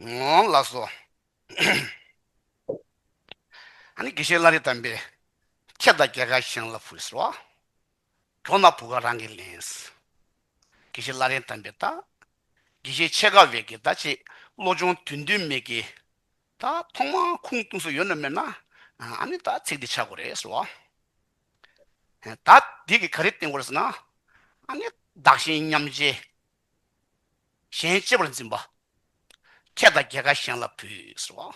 ངོ་ལགས་སོ། ཨ་ནི་དགེ་བཤེས་བླ་རི་དམ་པས། ཁྱེད་དང་རྒྱལ་ཁ་ཤང་ལ་བུད་སོ། གྲོ་ན་བུ་ག་རང་གིས་ལེན། དགེ་བཤེས་བླ་རི་དམ་པས་ད། དགེ་བཤེས་ཆེ་ཁ་བས་ཀྱི་ད་ཅེས་བློ་སྦྱོང་དུས་འདུན་མེད་ཀྱི། ད་ཐོག་མ་ཁུངས་གཏུགས་སུ་ཡོད་ནོ་མེད་ན། ཨ་ནི་ད་ཚིག་འདི་ཆག་གོ་རེད་ཟེར་བ། ད་འདི་གི་ག་རེ་བསྟན་གོ་རེད་ཟེར་ན། ཨ་ནི་བདག་གཞན་མཉམ་བརྗེ། གཞན་གཅེས་པར་འཛིན་པ། ཁྱེད་དང་རྒྱལ་ཁ་གཞན་ལ་བུད།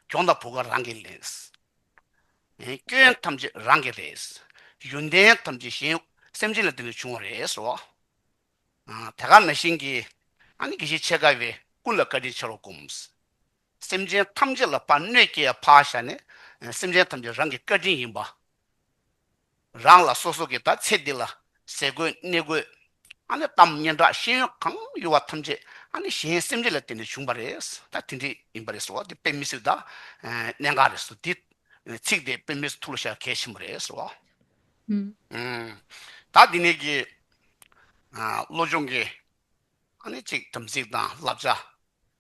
གྱོང་དང་བུ་ག་རང་གིས་ལེན། སྐྱོན་ཐམས་ཅད་རང་གིས་རེད། ཡོན་ཏན་ཐམས་ཅད་གཞན་སེམས་ཅན་ལ་དེ་ལས་བྱུང་བ་རེད། དེ་ག་ན་བཞིན་གྱི་ཨ་ནི་དགེ་བཤེས་ཆེ་ཁ་བས་ཀུན་ལ་བཀའ་དྲིན་ཆེ་རུ་བསྒོམ། སེམས་ཅན་ཐམས་ཅད་ལ་ཕ་གནོད་སྐྱེལ་ཡ་ཕ་ཤ་ནི་སེམས་ཅན་ཐམས་ཅད་རང་གི་བཀའ་དྲིན་ཡིན་པ། རང་ལ་སོ་སོ་གིས་ད་ཚེ་འདི་ལ་ཟས་གོས་གནས་གོས། ཨ་ནི་གཏམ་སྙན་གྲགས་ཤེས་ཡོན་གང་ཡོད་བ་ཐམས་ཅད་ཨ་ནི་གཞན་སེམས་ཅན་ལ་བརྟེན་ནས་བྱུང་བ་རེད་ད་དེ་འདྲས་ཡིན་པ་རེད་ཟེར་བ་དེ་དཔེ་མི་སྲིད་ད། གནད་འགག་རེད་ཟེར་དེ་ཚིག་དེ་དཔེ་མིས་ཐུགས་ལ་བཞག་གལ་ཆེན་པོ་རེད་ཟེར་བ། ད་འདི་ནས་ཀྱི་བློ་སྦྱོང་གི་ཨ་ནི་གཅིག་དམ་ཚིག་དང་བསླབ་བྱ་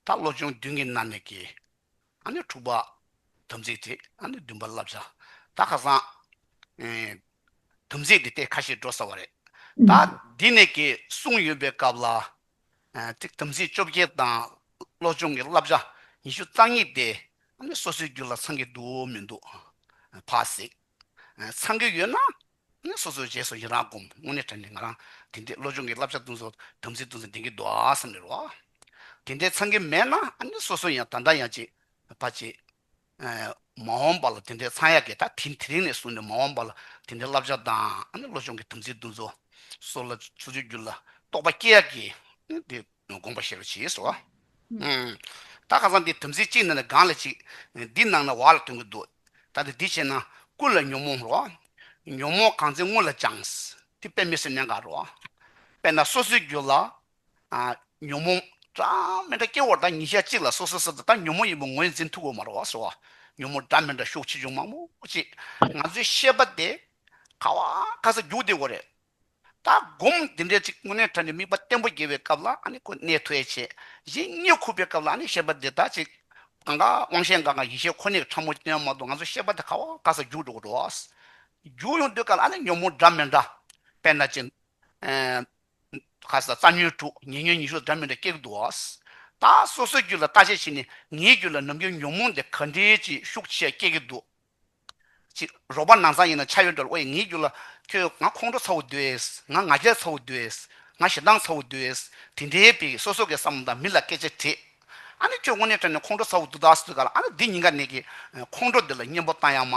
ད་བློ་སྦྱོང་བདུན་གྱི་ནང་ནས་ཀྱི་ཨ་ནི་དྲུག་པ། དམ་ཚིག་དེ་ཨ་ནི་བདུན་པ་བསླབ་བྱ་ད་ཁ་སང། དམ་ཚིག་འདི་ལྟའི་ཁ་ཞིག་འགྲོ་ས་བ་རེད། ད་འདི་ནས་ཀྱི་གསུང་ཡོད་པའི་སྐབས་ལ། ཅིག་དམ་ཚིག་བཅོ་བརྒྱད་དང་བློ་སྦྱོང་གི་བསླབ་བྱ་ཉི་ཤུ་རྩ་གཉིས་དེ་ཨ་ནི་སོ་སོའི་རྒྱུད་ལ་ཚང་གི་འདུག་མི་འདུག་ཕ་གཟིགས། ཚང་གི་ཡོད་ན་ནས་སོ་སོའི་རྗེས་སུ་ཡི་རང་བསྒོམ། དངོས་གནས་དྲན་ནས་ང་རང། དེ་འདྲའི་བློ་སྦྱོང་གི་བསླབ་བྱ་སྟོན་ཟོ། དམ་ཚིག་སྟོན་ཟོ་དེང་གི་མདོ་ཨ་བསམ་ཡོད་རོགས་ཨ། དེ་འདྲའི་འཚང་གི་མེད་ན་ཨ་ནི་སོ་སོ་ཡང་ད་འདྲ་ཡང་བྱེད། པ་བྱེད། མ་འོངས་པ་ལ་དེ་འདྲའི་འཚང་ཡ་གི་ད་དེ་དེ་རིང་ནས་བཟུང་ནས་མ་འོངས་པ་ལ་དེ་འདྲའི་བསླབ་བྱ་དང་ཨ་ནི་བློ་སྦྱོང་གི་དམ་ཚིག་སྟོན་ཟོ། སོ་ལ་སོ་སོའི་རྒྱུད་ལ་རྟོགས་པ་སྐྱེ་ཡ་གི། ཨ་ནི་དེ། དགོངས་པ་བཞེས་པར་བྱས་སོ། ད་ག་ས་འདི་དམ་ཚིག་གཅིག་ན་ནི་གང་ལ་གཅིག། འདི་གནང་ན་བག་ལ་དོན་གྱི་འདུག། ད་ནི་འདི་བྱས་ན་ཀུན་ལ་ཉོན་མོངས་རོ། ཉོན་མོངས་གང་ཚེ་སྔོན་ལ་སྦྱངས། དེ་དཔེ་མི་སྲིད་གནད་འགག་རོ། དཔེར་ན་སོ་སོའི་རྒྱུད་ལ། ཉོན་མོངས། སྒྲ་མི་འདྲ་སྐྱེ་བོར་ད་ཉིད་ཞལ་གཅིག་ལ་སོ་སོའི་སེམས་ད་ཉོན་མོངས་ཡིན་པ་ངོས་འཛིན་ཐུག་གོ་མ་རོ་བ་སོ། ཉོན་མོངས་སྒྲ་མི་འདྲ་ཤུགས་ཆེ་ཆུང་མང་པོ་ཅི། ང་ཚོའི་ཤེས་པ་དེ། ག་བ་ག་ས་རྒྱུག་བདེ་བོ་རེད། ད་སྒོམ་འདི་འདྲའི་ཚིག་དངོས་གནས་ཐོས་ནས་དམིགས་པ་བརྟན་པོ་རྒྱས་པའི་སྐབས་ལ་ནི་ཁོ་གནས་ཐོས་བྱས་གཞན་རྙེད་ཁུག་པའི་སྐབས་ལ་ནི་བཤད་པ་འདི་དག་ཅིག། གང་གཱ་དབང་ཤེས་འགའ་གང་ཡེ་ཤེས་ཁོ་ནའི་ཕྲ་མོ་ཅན་མ་གཏོགས་ང་ཚོས་བཤད་པ་དེ་ཁ་བ་དཀར་སར་རྒྱུགས་འགྲོ་གི་འགྲོ། རྒྱུགས་ཡོང་དུས་ག་ལ་ནི་ཉོན་མོངས་འདྲ་མི་འདྲ། དཔེར་ན་ཅི། ཁ་ཟས་རྩ་ཉོན་དྲུག་ཉེ་ཉོན་ཉི་ཤུ་འདྲ་མི་འདྲ་སྐྱེ་གི་འདུག། ད་སོ་སོའི་རྒྱུད་ལ་བལྟ་བྱའི་ཕྱིར་ནི་ངའི་རྒྱུད་ལ་ནམ་རྒྱུན་ཉོན་མོངས་འདི་ག་འདྲའི་ཅིག་ཤུགས་ཆེ་སྐྱེ་གི་འདུག། ཅེས། རོགས་པ་ནང་ཚང་ཡིན་ན་ཆ་ཡོད་འགྲོ་ལ་ཨོ་ཡིས་ངའི་རྒྱུད་ལ་ཁྱོད་ང་ཁོང་ཁྲོ་ཚ་བོ་འདོད། ང་ང་རྒྱལ་ཚ་བོ་འདོད། ང་ཞེ་སྡང་ཚ་བོ་འདོད། དེ་འདྲའི་དཔེ་གིས་སོ་སོ་གའི་བསམ་བློ་དང་མི་ལ་སྐད་ཆ་དྲིས། ཨ་ནི་ཁྱོད་དངོས་གནས་ཁྲོས་ནས་ཁོང་ཁྲོ་ཚ་བོ་འདུག་ད་ཟོས་ག་ལ་ཨ་ནི་འདི་ཉིན་ག་ནས་ཀྱི་ཁོང་ཁྲོ་འདི་ལ་གཉེན་པོ་བཏང་ཡག་མ།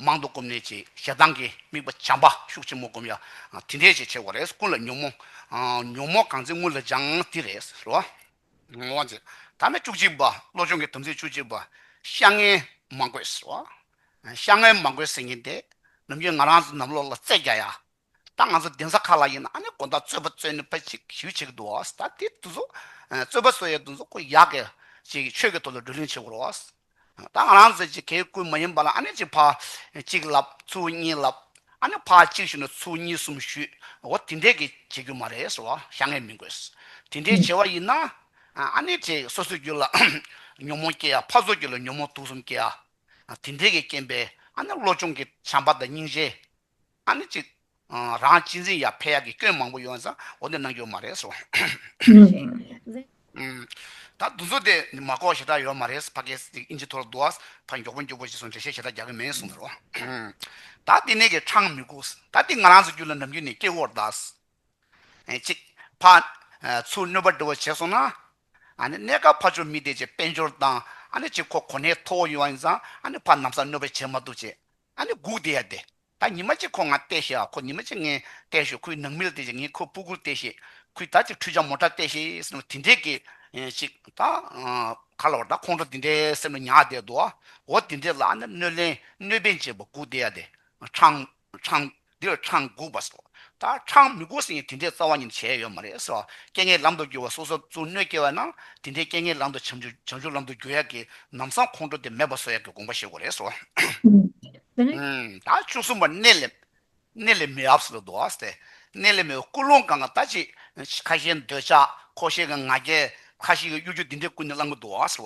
མང་དུ་སྒོམ་ནས་ཅེས་ཞེ་སྡང་གི་དམིགས་པ་བྱམས་པ་ཤུགས་ཆེན་མོ་བསྒོམ་ཡ། དེ་འདྲས་ཅིག་བྱེད་དགོས་རེད་ཀུན་ལ་ཉོན་མོངས། ཉོན་མོངས་གང་ཚེ་དངུལ་ལ་སྦྱངས་དེ་རེད་རོ། ངག་དབང་ཚེ་དང་ནི་བཅུ་གཅིག་པ། བློ་ཆུང་གི་དམ་ཚིག་བཅུ་གཅིག་པ། ཤ་ངན་མ་དགོས་ཟེར་བ། ཤ་ངན་མ་དགོས་ཟེར་ཉིན་དེ། ནམ་རྒྱུན་ང་རང་ནམ་ལོག་ལ་རྩེད་རྒྱག་ཡ། ད་ང་ཚོ་གདན་ས་ཁག་ལ་ཡིན་ན་ཨ་ནི་དགོན་བདག་རྩོད་པ་རྩོད་ནི་པ་ཅིག་ཞུ་བྱེད་ཀྱི་འདུག་བ། ད་དེ་དུས་སུ། རྩོད་པ་རྩོད་ཡའི་དུས་སུ་ཁོ་ཡག་གི། ཅིག་ཆོས་ཀྱི་ཐོག་ལ་བགྲོ་གླེང་བྱེད་དགོས་རོགས། ད་ང་རང་ཟེར་གྱི་གའི་སྐུ་མ་ཡིན་པ་ལ་ཨ་ནི་གཅིག་ཕ་གཅིག་ལབ་ཚུལ་གཉིས་ལབ་ཨ་ནི་ཕ་གཅིག་ཞུས་ན་ཚུལ་གཉིས་གསུམ་ཞུས་འོ་དེ་འདྲས་གི་བྱེད་རྒྱུ་མ་རེད་ཟེར་བ་ཤ་ངེས་མིན་དགོས་དེ་འདྲས་བྱེད་བ་ཡིན་ན་ཨ་ནི་དེ་སོ་སོའི་རྒྱུད་ལ་ཉོན་མོངས་སྐྱེ་ཡ་ཕ་སོ་རྒྱུད་ལ་ཉོན་མོངས་དུག་གསུམ་སྐྱེ་ཡ་དེ་འདྲས་གི་རྐྱེན་པས་ཨ་ནི་བློ་སྦྱོང་གི་བྱམས་པ་དང་སྙིང་རྗེ་ཨ་ནི་ཅི། རང་གཅེས་འཛིན་ཡ་ཕེ་ཡ་གི་སྐྱོན་མང་པོ་ཡོད་ན་ཟ་འོ་འདི་གནང་རྒྱུ་མ་རེད་སོ། ད་འདུ་འཛོ་དེ་ནི་མ་ཀོ་ཞེ་དྲག་ཡོད་མ་རེད་ཕ་ཀེ་སི་ཨིན་ཇི་ཐོར་འདུ་ཨས་ཕ་མགྱོགས་པོ་མགྱོགས་པོ་ཞེས་སོང་འགྲེལ་བཤད་ཞེ་དྲག་རྒྱག་གི་མེད་གསུང་ཟེར་རོ། ད་དེ་ནས་ཀྱི་འཕྲང་མི་སྒུགས། ད་དེ་ང་རང་ཚོ་རྒྱུད་ལ་འགྲམ་རྒྱུད་ནས་སྐྱེ་བོར་གདའ། ཅིག། ཕ། ཚུར་གནོད་པ་འདྲི་བ་བྱས་སོང་ན། ཨ་ནི་གནས་སྐབས་ཕ་ཆོ་མི་དེ་ཅེས་དཔལ་འབྱོར་དང་ཨ་ནི་ཅི་ཁོ་གོ་གནས་མཐོ་བོ་ཡོད་ཨིན་ཙང་ཨ་ནི་ཕ་ནམ་ས་གནོད་པ་བྱས་མ་འདུག་ཅེས་ཨ་ནི་སྒུག་བསྡད་ཡ་བསྡད། ད་ཉི་མ་གཅིག་ཁོ་ང་བལྟས་ཤེས་ཨ་ཁོ་ཉི་མ་གཅིག་ངས་བལྟས་ཤོག་ཁོའི་ནང་མིར་བལྟས་ཤེས་ངས་ཁོའི་སྤུ་གུར་བལྟས་ཤེས། ཁོས་ད་ཅིག་ཁྲུས་ཆ་མོ་འདྲ་བལྟས་ཤེས་ཟེར་ནས་དེ་འདྲའི་གི། ཅིག་ད། ག་ལ་བར་ད་ཁོང་ཁྲོ་དེ་འདྲའི་སེམས་ལ་ཉག་བསྡད་འདུག་ཨ་འོ་དེ་འདྲའི་ལ་ཨ་ནི་གནོད་ལན་གནོད་པན་ཅེས་པ་སྒུག་བསྡད་ཡ་བསྡད། ཁྲང། ཁྲང། འདིར་འཕྲང་སྒུག་པ་སོགས་ད་འཕྲང་མི་སྒུག་ཟིན་ཡང་དེ་འདྲའི་རྩ་བ་ཉིད་བྱས་ཡོད་མ་རེད་ཟེར་བ་རྐྱེན་ངན་ལམ་དུ་བསྒྱུར་བ་སོ་སོར་རྩུབ་གནོད་སྐྱེལ་བས་ན་དེ་འདྲའི་རྐྱེན་ངན་ལམ་དུ་བྱང་ཆུབ་ལམ་དུ་བསྒྱུར་ཡག་གི་ནམ་བཟང་ཁོང་ཁྲོ་དེ་མེད་པར་བཟོ་ཡག་གི་དགོངས་པ་བཞེས་དགོས་རེད་ཟེར་བ། ད་བཅུ་གསུམ་པ་གནས་ལས་གནས་ལས་མི་ཨབ་སི་ལ་འདུག་ཟེར་གནས་ལས་མི་བའི་ཀུན་སློང་གང་གང་ད་ཅི་ཁ་ཤས་འདོད་ཆགས་ཁོ་ཤས་ཀྱི་ང་རྒྱལ་ཁ་ཤས་ཀྱི་གཡོ་སྒྱུ་འདི་འདྲའི་ཀུན་ནས་བསླང་གི་འདུག་ཟེར་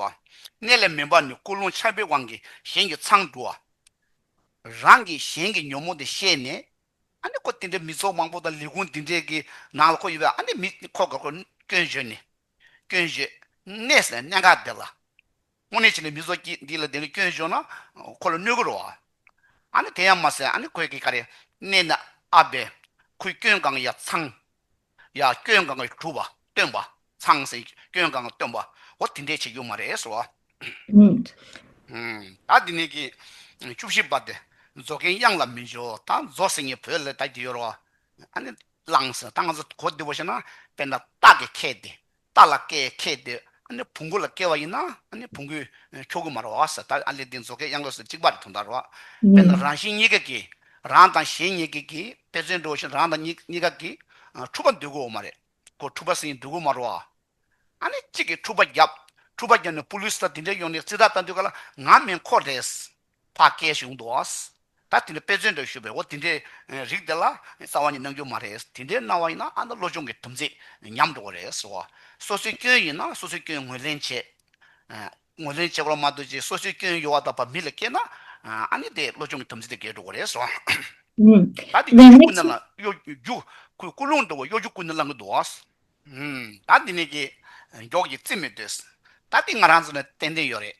བ། གནས་ལས་མི་འབའ་ནི་ཀུན་སློང་ཆགས་པའི་དབང་གིས་གཞན་གྱི་མཚང་འབྲུ་བ། རང་གིས་གཞན་གྱི་ཉོན་མོངས་དེ་ཤེས་ནས། ཨ་ནི་ཁོ་དེ་འདྲའི་མི་ཚོགས་མང་པོ་དང་ལས་ཁུངས་འདི་འདྲའི་གི་ནང་ལ་ཁོ་ཡོད་པས་ཨ་ནི་མི་ཁོ་དགའ་ཁོ་སྐྱོན་བརྗོད་ནས། སྐྱོན་བརྗོད། གནས་སའི་གནད་འགག་འདི་ལ། དངོས་གནས་བྱས་ནས་མི་ཚོགས་ཀྱིས་འདི་ལ་དེ་འདྲའི་སྐྱོན་བརྗོད་ན། ཁོ་ལ་གནོད་གི་རོ། ཨ་ནི་དེ་ཡང་མ་ཟད་ཨ་ནི་ཁོས་གི་ག་རེ་གནས་ན་ཨ་བས། ཁོའི་སྐྱོན་གང་ཡང་ཚང། ཡ། སྐྱོན་གང་གིས་གྲུབ་བ་སྟོན་པ་ཚང་ཟིན་གྱི་སྐྱོན་གང་སྟོན་པའོ་དེ་འདྲས་བྱེད་རྒྱུ་མ་རེད་ཟེར་བ། ཉིད། ད་འདི་ནས་ཀྱི་བཅུ་བཞི་པ་དེ་རྫོགས་མཁན་དབྱངས་ལ་མི་འཇོག་ད་རྫོགས་ཟིན་གྱི་བོད་ལ་ད་འདི་ཡོད་རོགས་ཨ་ནི་བླངས་ཟིན་ད་ང་ཚོ་གོ་བདེ་བོ་བྱས་ན་དཔེར་ན་སྟག་གི་ཁལ་དེ་རྟ་ལ་སྐེ་ཁེགས་ཏེ་བུང་གུ་ལ་སྐྱེ་བ་ཡིན་ན་བུང་གུས་ཁྱོ་གུ་མར་བ་བ་ཟེར་ད་ཨ་ལས་འདི་མཛོ་ཁའི་གཡང་ལོ་ཟེར་གཅིག་པ་རེད་དོ་འདར་བ། དཔེར་ན་རང་བཞིན་གཉིས་ཀས་ཀྱིས་རང་དང་གཞན་གཉིས་ཀས་ཀྱིས་དཔེ་མཚོན་འགྲོ་བ་བཞིན་རང་དང་གཉིས་ཀ་གིས་འཁྲུག་པ་འདོད་གུ་འོ་མ་རེད་གོ་འཁྲུག་པ་ཟིན་འདོད་གུ་མར་བ། ཨ་ནི་གཅིག་གིས་འཁྲུག་པ་བརྒྱབ་འཁྲུག་པ་བརྒྱབ་ནས་པུ་ལུས་ལ་དེ་འདྲས་ཡོང་ནས་རྩིས་རྟགས་བལྟ་འདོད་ག་ལ་ང་མེན་ཁོག་རེད། བ་སྐད་ཞིག་འོང་འདུག་ཨ། ད་དེ་འདྲའི་དཔེ་མཚོན་འདྲ་ཞུས་པས་འོ་དེ་འདྲའི་རིགས་དེ་ལ་རྩ་བ་ནས་གནང་རྒྱུ་མ་རེད་དེ་འདྲའི་གནང་བ་ཡིན་ན་ཨ་མདོ་བློ་སྦྱོང་གི་དམ་ཚིག་ཉམས་འགྲོ་བ་རེད་ཟེར་བ། སོ་སོའི་སྐྱོན་ཡིན་ན་སོ་སོའི་སྐྱོན་ངོས་ལེན་བྱེད། ངོས་ལེན་བྱེད་པར་མ་འདོད་ཅིག་སོ་སོའི་སྐྱོན་ཡོད་བ་དག་བ་མི་ལ་སྐྱེས་ན་ཨ་ནི་དེ་བློ་སྦྱོང་གི་དམ་ཚིག་དེ་འགལ་འགྲོ་བ་རེད་ཟེར་བ། ད་དེ་གཡོ་སྒྱུ་ཀུན་ནས་ལ་གཡོ་སྒྱུ་ཀུན་སློང་འདུག་གཡོ་སྒྱུ་ཀུན་ནས་བསླང་གི་འདུག་ཨ། ད་དེ་ནས་ཀྱི་མགྱོགས་ཀྱི་རྩིས་མི་འདོད། ད་དེ་ང་རང་ཚོ་ནས་ཏན་ཏན་ཡོད་རེད།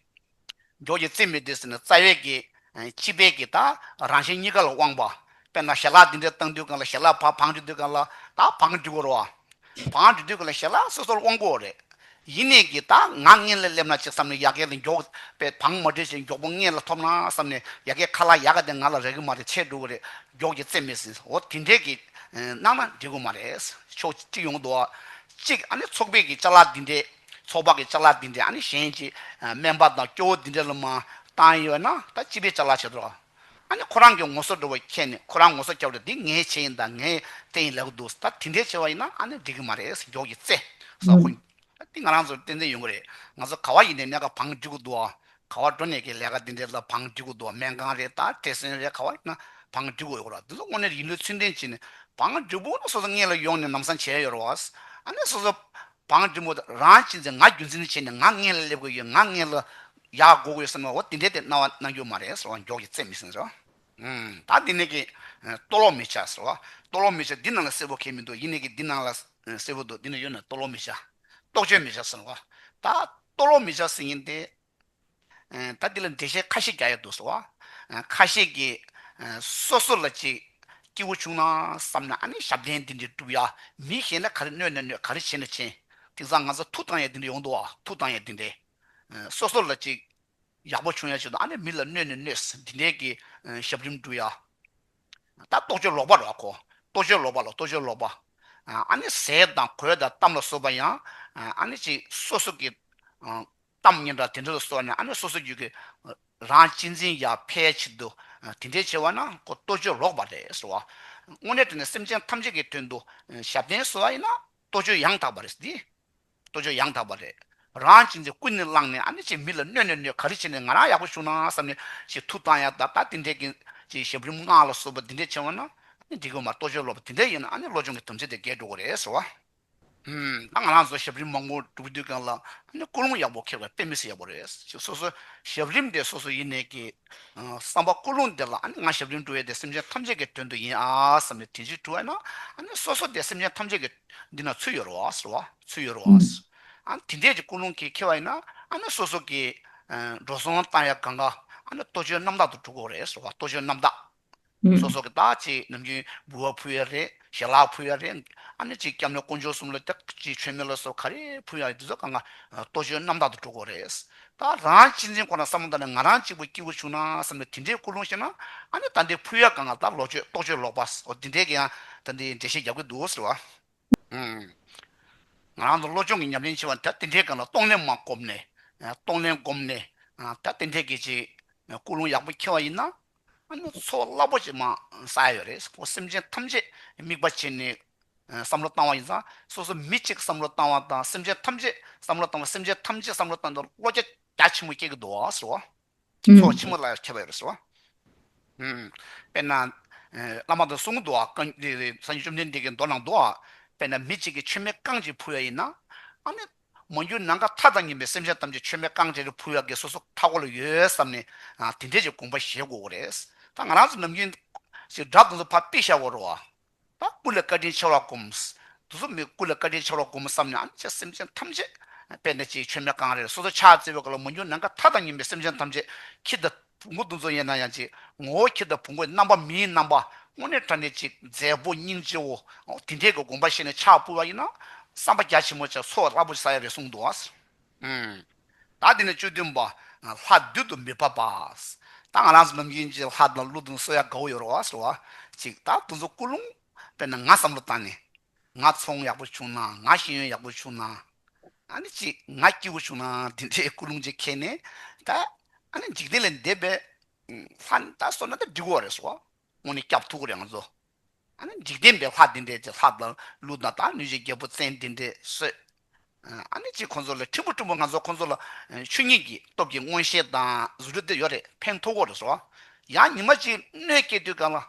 སྒྲོག་གི་རྩིས་མེད་དེ་ཟེར་ནས་རྩ་བའི་གེགས། སྤྱི་དཔལ་གྱི་དང་རང་གཞན་གཉིས་ཀ་ལ་དབང་བ། དཔེར་ན་ཞལ་ལག་འདི་འདྲས་བཏང་དུས་གང་ལ་ཞལ་ལག་བག་བང་གཅོད་དུས་གང་ལ་དང་བང་གཅོད་དགོས་རོ། བང་གཅོད་དུས་གང་ལ་ཞལ་ལག་སོ་སོར་དབང་དགོས་རེད། ཡིན་ནས་གི་དང་ངག་སྔས་ལ་སླེབས་ན་ཅིག་བསམ་ནས་ཡ་གས་ལ་མགྱོགས་པས་བང་མ་དྲིལ་ཞིག་མགྱོགས་པོ་སྔས་ལ་ཐོབ་ན་བསམ་ནས་ཡ་གས་ཁ་ལག་ཡ་ག་དེ་ང་ལ་རེག་གི་མ་རེད་ཆད་འགྲོ་གི་རེད་སྒྲོག་གི་རྩིས་མེད་ཟིན་འོ་དེ་འདྲས་གི་གནང་ན་འགྲིག་གི་མ་རེད། ཕྱོགས་གཅིག་ཡོང་དུ་བ་གཅིག་ཨ་ནི་ཚོགས་པས་གི་ལྕགས་ལག་འདི་འདྲས་ཚོགས་པ་གི་ལྕགས་ལ་འདི་འདྲས་ཨ་ནི་གཞན་གྱི་སྨན་པ་དང་སྐྱོ་བོ་འདི་འདྲས་ལ་མ་བཏང་ཡོད་ན་ད་སྤྱི་པའི་ལྕགས་ལ་བྱེད་དོ། ཨ་ནི་ཁོ་རང་གི་ངོ་སོ་འགྲོ་བའི་ཁྱད་ནི་ཁོ་རང་ངོ་སོ་སྐྱ་བོ་དེ་འདི་ངའི་ཆེད་ཡིན་དང་ངའི་རྟེན་ཡིན་ལེགས་པོ་འདུག་ད་དེ་འདྲས་བྱས་བ་ཡིན་ན་ཨ་ནི་འགྲིག་གི་མ་རེད་མགྱོགས་ཀྱི་རྩེ་ས་ཁོ་འདི་ང་རང་ཚོར་བསྟན་འཛིན་ཡོང་གི་རེད་ང་ཚོ་ག་བ་ཡིན་ནས་སྨན་ཁང་བང་སྒྲིག་གི་འདུག་ག་བ་འགྲོ་ནས་ཀྱི་ལས་ཀ་འདི་འདྲས་ལ་བང་སྒྲིག་གི་འདུག་སྨན་ཁང་རེད་ད་བྲེ་སྲོན་རེད་ག་བ་ཡིན་ན་བང་སྒྲིག་གི་ཡོད་རོགས་འདི་ཚོ་དངོས་གནས་ཡིན་ལུས་ཚུལ་ལྡན་བྱས་ནས་བང་སྒྲིག་པོ་ན་སོ་སོ་སྔས་ལ་ཡོང་ནས་ནམ་སང་བྱས་ཡོད་རོགས་ཨ་ནི་སོ་སོ་བང་འབྲིང་པོ་དང་རང་གཅིག་འཛིན་ང་རྒྱུ་འཛིན་བྱས་ནས་ང་ལྔས་ལ་སླེབས་དགོས་ཡོད་ང་ལྔས་ལ་ཡག་བགོ་དགོས་བསམ་པའོ་དེ་འདྲའི་དེ་སྣང་བ་སྣང་རྒྱུ་མ་རེད་ཟེར་བ་མགྱོགས་ཀྱིས་བརྩད་མི་སྲིད་ཟེར། ད་འདི་ནས་ཀྱི། ལྟོ་ལོག་མི་བྱ་ཟེར། ལྟོ་ལོག་མི་བྱ་འདི་ནང་ལ་གསལ་བོ་ཁེལ་མི་འདུག་ཡིན་ནས་ཀྱི་འདི་ནང་ལ་གསལ་བོ་འདུག་འདི་ནས་ཡོད་ན་ལྟོ་ལོག་མི་བྱ། རྟོག་དཔྱོད་མི་བྱ་ཟེར། ད་ལྟོ་ལོག་མི་བྱ་ཟེར་ཡིན་ཏེ། ད་འདི་ལ་འགྲེལ་བཤད་ཁ་ཤས་རྒྱག་ཡ་འདུག་སོ། ཁ་ཤས་ཀྱིས། སོ་སོ་ལ་ཅིག་སྐྱེ་བོ་བྱུང་ན་བསམ་ན་ཨ་ནི་ཞབས་བརྟན་འདི་འདྲས་བསྒྲུབ་ཡ། མི་གཞན་ལ་ག་རེ་གནོད་ན་གནོད་ག་རེ་བྱེད་ན་བྱེད། དེང་སང་ང་ཚོ་ཐུགས་དང་ཡ་འདི་འདྲས་ཡོང་འདུག་བ་ཐུགས་དང་ཡ་འདི་འདྲས། སོ་སོ་ལ་ཅིག། ཡག་པོ་བྱུང་ཡ་བྱུང་ན་ཨ་ནི་མི་ལ་གནོད་ནས་གནོད། འདི་འདྲས་ཀྱི་ཞབས་རིམ་བསྒྲུབ་ཡ། ད་ལྟོ་ཅོ་ལོག་པ་ར་གོ། ལྟོ་ཅོ་ལོག་པ་ལ་ལྟོ་ཅོ་ལོག་པ། ཨ་ནི་ཟས་དང་གོས་དང་གཏམ་ལ་སོགས་པ་ཡང་ཨ་ནི་ཅིག་སོ་སོ་ཀྱི། གཏམ་སྙན་གྲགས་དེ་འདྲ་ལ་སོགས་ནས་ཨ་ནེ་སོ་སོའི་རྒྱུད་ཀྱི་རང་གཅེས་འཛིན་ཡར་འཕེལ་ཕྱིར་དུ་དེ་འདྲའི་བྱེད་བ་ན་ཁོ་ལྟོ་ཅོ་ལོག་པ་རེད་ཟེར་བ། དངོས་གནས་དེ་ནི་སེམས་ཅན་ཐམས་ཅད་ཀྱི་དོན་དུ་ཞབས་བརྟན་བཟོ་བ་ཡིན་ན་ལྟོ་ཅོ་ཡང་དག་པ་རེད་ཟེར་དེ། ལྟོ་ཅོ་ཡང་དག་པ་རེད། རང་གཅེས་འཛིན་ཀུན་ནས་བསླངས་ནས་ཨ་ནེ་ཅེས་མི་ལ་གནོད་ནས་གནོད་ག་རེ་བྱས་ནས་ང་རང་ཡག་པོ་བཞུགས་ན་བསམ་ནས་ཞེས་ཐུགས་དང་ཡང་དག་པ་དེ་འདྲའི་གི་ཅེས་ཞབས་རིམ་སྔགས་ལ་སོགས་པ་དེ་འདྲའི་བྱེད་བ་ན་ཨ་ནེ་འགྲིག་གི་མ་ལྟོ་ཅོ་ལོག་པ་དེ་འདྲ་ཡིན་ན་ཨ་ནེ་བློ་སྦྱོང་གི་དམ་ཚིག་དེ་འགལ་འགྲོ་གི་རེད་ཟེར་བ། དང་ང་རང་ཚོ་ཞབས་རིམ་མང་པོ་སྒྲུབ་ཀྱི་འདུག་ཀྱང་ལ་ནི་ཀུན་སློང་ཡག་པོ་འཁེལ་བའི་དཔེ་མི་སྲིད་ཡག་པོ་རེད་ཅེས་སོ་སོའི་ཞབས་རིམ་དེ་སོ་སོ་ཡེ་ནས་ཀྱི་བསམ་པ་ཀུན་སློང་དེ་ལ་ནི་ང་ཞབས་རིམ་སྒྲུབ་ཡས་དེ་སེམས་ཅན་ཐམས་ཅད་ཀྱི་དོན་དུ་ཡིན་ཨ་བསམ་ནས་དེ་འཇིགས་བྲོ་བས་ན་སོ་སོ་དེ་སེམས་ཅན་ཐམས་ཅད་ཀྱི་འདི་ན་ཚུད་ཡོད་རོ་ཨ་ཟེར་བ་ཚུད་ཡོད་རོ་ཨ་ཟེར་དེ་འདྲས་ཀྱི་ཀུན་སློང་གིས་འཁེལ་བ་ཡིན་ན་སོ་སོ་ཀྱི་འགྲོ་སོང་བཏང་ཡས་གང་ག་ཨ་ནི་ལྟོ་ཆོས་རྣམ་དག་ཏུ་གྲུབ་དགོས་རེད་ཟེར་བ་ལྟོ་ཆོས་རྣམ་དག། ཚོགས་གསོག་གི་བདག་ཅེས་ནམ་རྒྱུན་འབུལ་བ་ཕུལ་ཡ་རེད་ཞལ་ལག་ཕུལ་ཡ་རེད་ཨ་ནེ་གཅིག་སྐྱབས་ནས་དཀོན་མཆོག་གསུམ་ལ་བདག་གཅིག་ཆོས་མེད་ལ་སོགས་ག་རེ་ཕུལ་ཡ་རེད་འདི་ཚོ་གང་གཱ་ལྟོ་འཕྱོའི་རྣམ་དག་ཏུ་འགྲོ་གོ་རེད། ད་རང་གཅེས་འཛིན་ཁོ་ན་བསམ་བློ་བཏང་ནས་ང་རང་གཅིག་པུ་སྐྱིད་པོ་བྱུང་ན་བསམ་ནས་དེ་འདྲའི་ཀུན་སློང་བཤད་ན་ཨ་ནེ་ད་འདི་ཕུལ་ཡ་གང་གཱ་ད་ལོ་ཆོས་རྟོགས་ཆོས་ལོག་པ་ཟོ་འདི་འདྲས་ཀྱི་ཡང་ད་འདི་འགྲེལ་བཤད་རྒྱབ་ཀྱི་འདུག་ཟེར་བ་ཨང། ང་རང་དང་བློ་སྦྱོང་གི་ཉམས་ལེན་ཆེ་བ་ད་འདི་འདྲས་གང་ལ་རྟོགས་ནས་མ་སྒོམ་ནས་རྟོགས་ནས་སྒོམ་ནས་ད་འདི་འདྲས་ཀྱི་ཅིག་ཀུན་སློང་ཡག་པོ་འཁྱེར་བ་ཡིན་ན། ཨ་ནུ་ཚོགས་རླབས་པོ་ཆེ་མ་ས་ཡོད་རེད་ཁོང་སེམས་ཅན་ཐམས་ཅད་དམིགས་པ་བྱས་ནས་བསམ་བློ་བཏང་བ་ཡིན་ཙང་སོ་སོ་མི་གཅིག་བསམ་བློ་བཏང་བ་དང་སེམས་ཅན་ཐམས་ཅད་བསམ་བློ་བཏང་བ་སེམས་ཅན་ཐམས་ཅད་བསམ་བློ་བཏང་དུས་བློ་རྒྱ་རྒྱ་ཆེན་པོ་སྐྱེ་གི་འདུག་ཟེར་བ། ཚོགས་ཆེན་མོ་ལ་ཁྱབ་པ་ཡོད་རེད་ཟེར་བ། དཔེར་ན་བླ་མ་དང་གསུང་གི་འདུག་བ་སངས་རྒྱས་བཅོམ་ལྡན་འདས་ཀྱི་མདོ་ནང་འདུག་བ་དཔེར་ན་མི་གཅིག་གིས་མཆོད་མེ་རྐང་གཅིག་ཕུལ་བ་ཡིན་ན། ཨ་ནུ་མ་འགྱུར་ནམ་མཁའ་མཐའ་དང་ཉམས་པའི་སེམས་ཅན་ཐམས་ཅད་མཆོད་མེ་རྐང་རྗེས་རི་ཕུ་ཡར་གེ་སོ་སོགས་མཐའ་སྐོར་ལ་ཡོད་བསམ་ནས་དེ་འདྲའི་ཅིག་གོམ་པ་བཞེས་དགོས་ཀྱི་རེད། ད་ང་རང་ཚོ་ནམ་རྒྱུན། ཞེས་སྒྲ་དང་དུ་བ་པི་ཤ་བོ་རོ། ད་སྐུ་ལས་བཀའ་དྲིན་ཆེ་བར་བསྒོམ། དུ་སོ་མའི་སྐུ་ལས་བཀའ་དྲིན་ཆེ་བར་བསྒོམ་བསམ་ནས་ཨམ་ཆད་སེམས་ཅན་ཐམས་ཅད། དཔལ་ལྡན་སྤྱིའི་མཆོད་མེ་རྐང་རེར་སོ་སོ་ཕྱག་བཙལ་བའི་སྐབས་ལ་མ་འགྱུར་ནམ་མཁའ་མཐའ་དང་ཉམས་པའི་སེམས་ཅན་ཐམས་ཅད་ཁྱི་ལྟ། ཕུང་པོ་འདུ་འཛོ་ཡེ་ན་ཡང་ཅིག། ངོ་བོ་ཁྱེད་ལྟ་ཕུང་པོའི་རྣམ་པ་མིའི་རྣམ་པ། སྔོན་གནས་དགྲ་གནས་ཅིག་མཛའི་བོ་སྙིང་རྗེའོ། དེ་འདྲའི་གོ་བསྒོམ་པ་ཤེས་ནས་ཕྱག་སྤུལ་བ་ཡིན་ན། བསམ་པ་རྒྱ་ཆེན་མོ་ཅིག་ཚོགས་ར་བོ་ཆེ་ས་ཡ་རེ་གསུངས་འདུག་ཨང། ད་འདི་ནས་བཅུ་བདུན་པ། ལྷ་བདུད་དུ་མི་བབ་པ། ད་ང་རང་ཚོ་ནམ་རྒྱུན་གྱི་ལྷ་དང་ཀླུ་དང་སོ་ཡ་གའུ་ཡོ་རོ་བ་སོ་བ། ཅིག་ད་འདུ་འཛོ་ཀུན་སློང། དཔེར་ན་ང་བསམ་བློ་བཏང་ནས། ང་ཚོང་ཡག་པོ་བྱུང་ན་ང་ཤེས་ཡོན་ཡག་པོ་བྱུང་ན་ཨ་ནི་ཅིག་ང་སྐྱིད་པོ་བྱུང་ན་དེ་འདྲའི་ཀུན་སློང་ཅིག་ཁེལ་ནས་ད་ཨ་ནི་འཇིག་རྟེན་ལས་འདས་པའི་ལྷ་ནི་ད་སོ་ན་ད་འགྲིག་གོ་རེད་བསོ་དངོས་ནས་སྐྱབས་ཐུག་གོ་རེད་ང་ཚོ་ཨ་ནི་འཇིག་རྟེན་པའི་ལྷ་དེ་འདྲའི་ཅིག་ལྷ་དང་ཀླུ་དང་དང་ནུས་ཅིག་རྒྱལ་པོ་བཙན་དེ་འདྲའི་བསོས་ཨ་ནི་ཅིག་ཁོང་ཚོ་ལ་ཕྲན་བུ་ཕྲན་བུ་ང་ཚོ་ཁོང་ཚོ་ལ་ཆོས་ཉིད་ཀྱི་སྟོབས་ཀྱི་མངོན་ཤེས་དང་བཟོ་སྒྲུབ་དེ་ཡོད་རེད་ཕན་ཐོག་གོ་རེད་བསོ་ཡང་ཉི་མ་ཅིག་སྣོད་སྐྱེས་དུས་གང་ལ།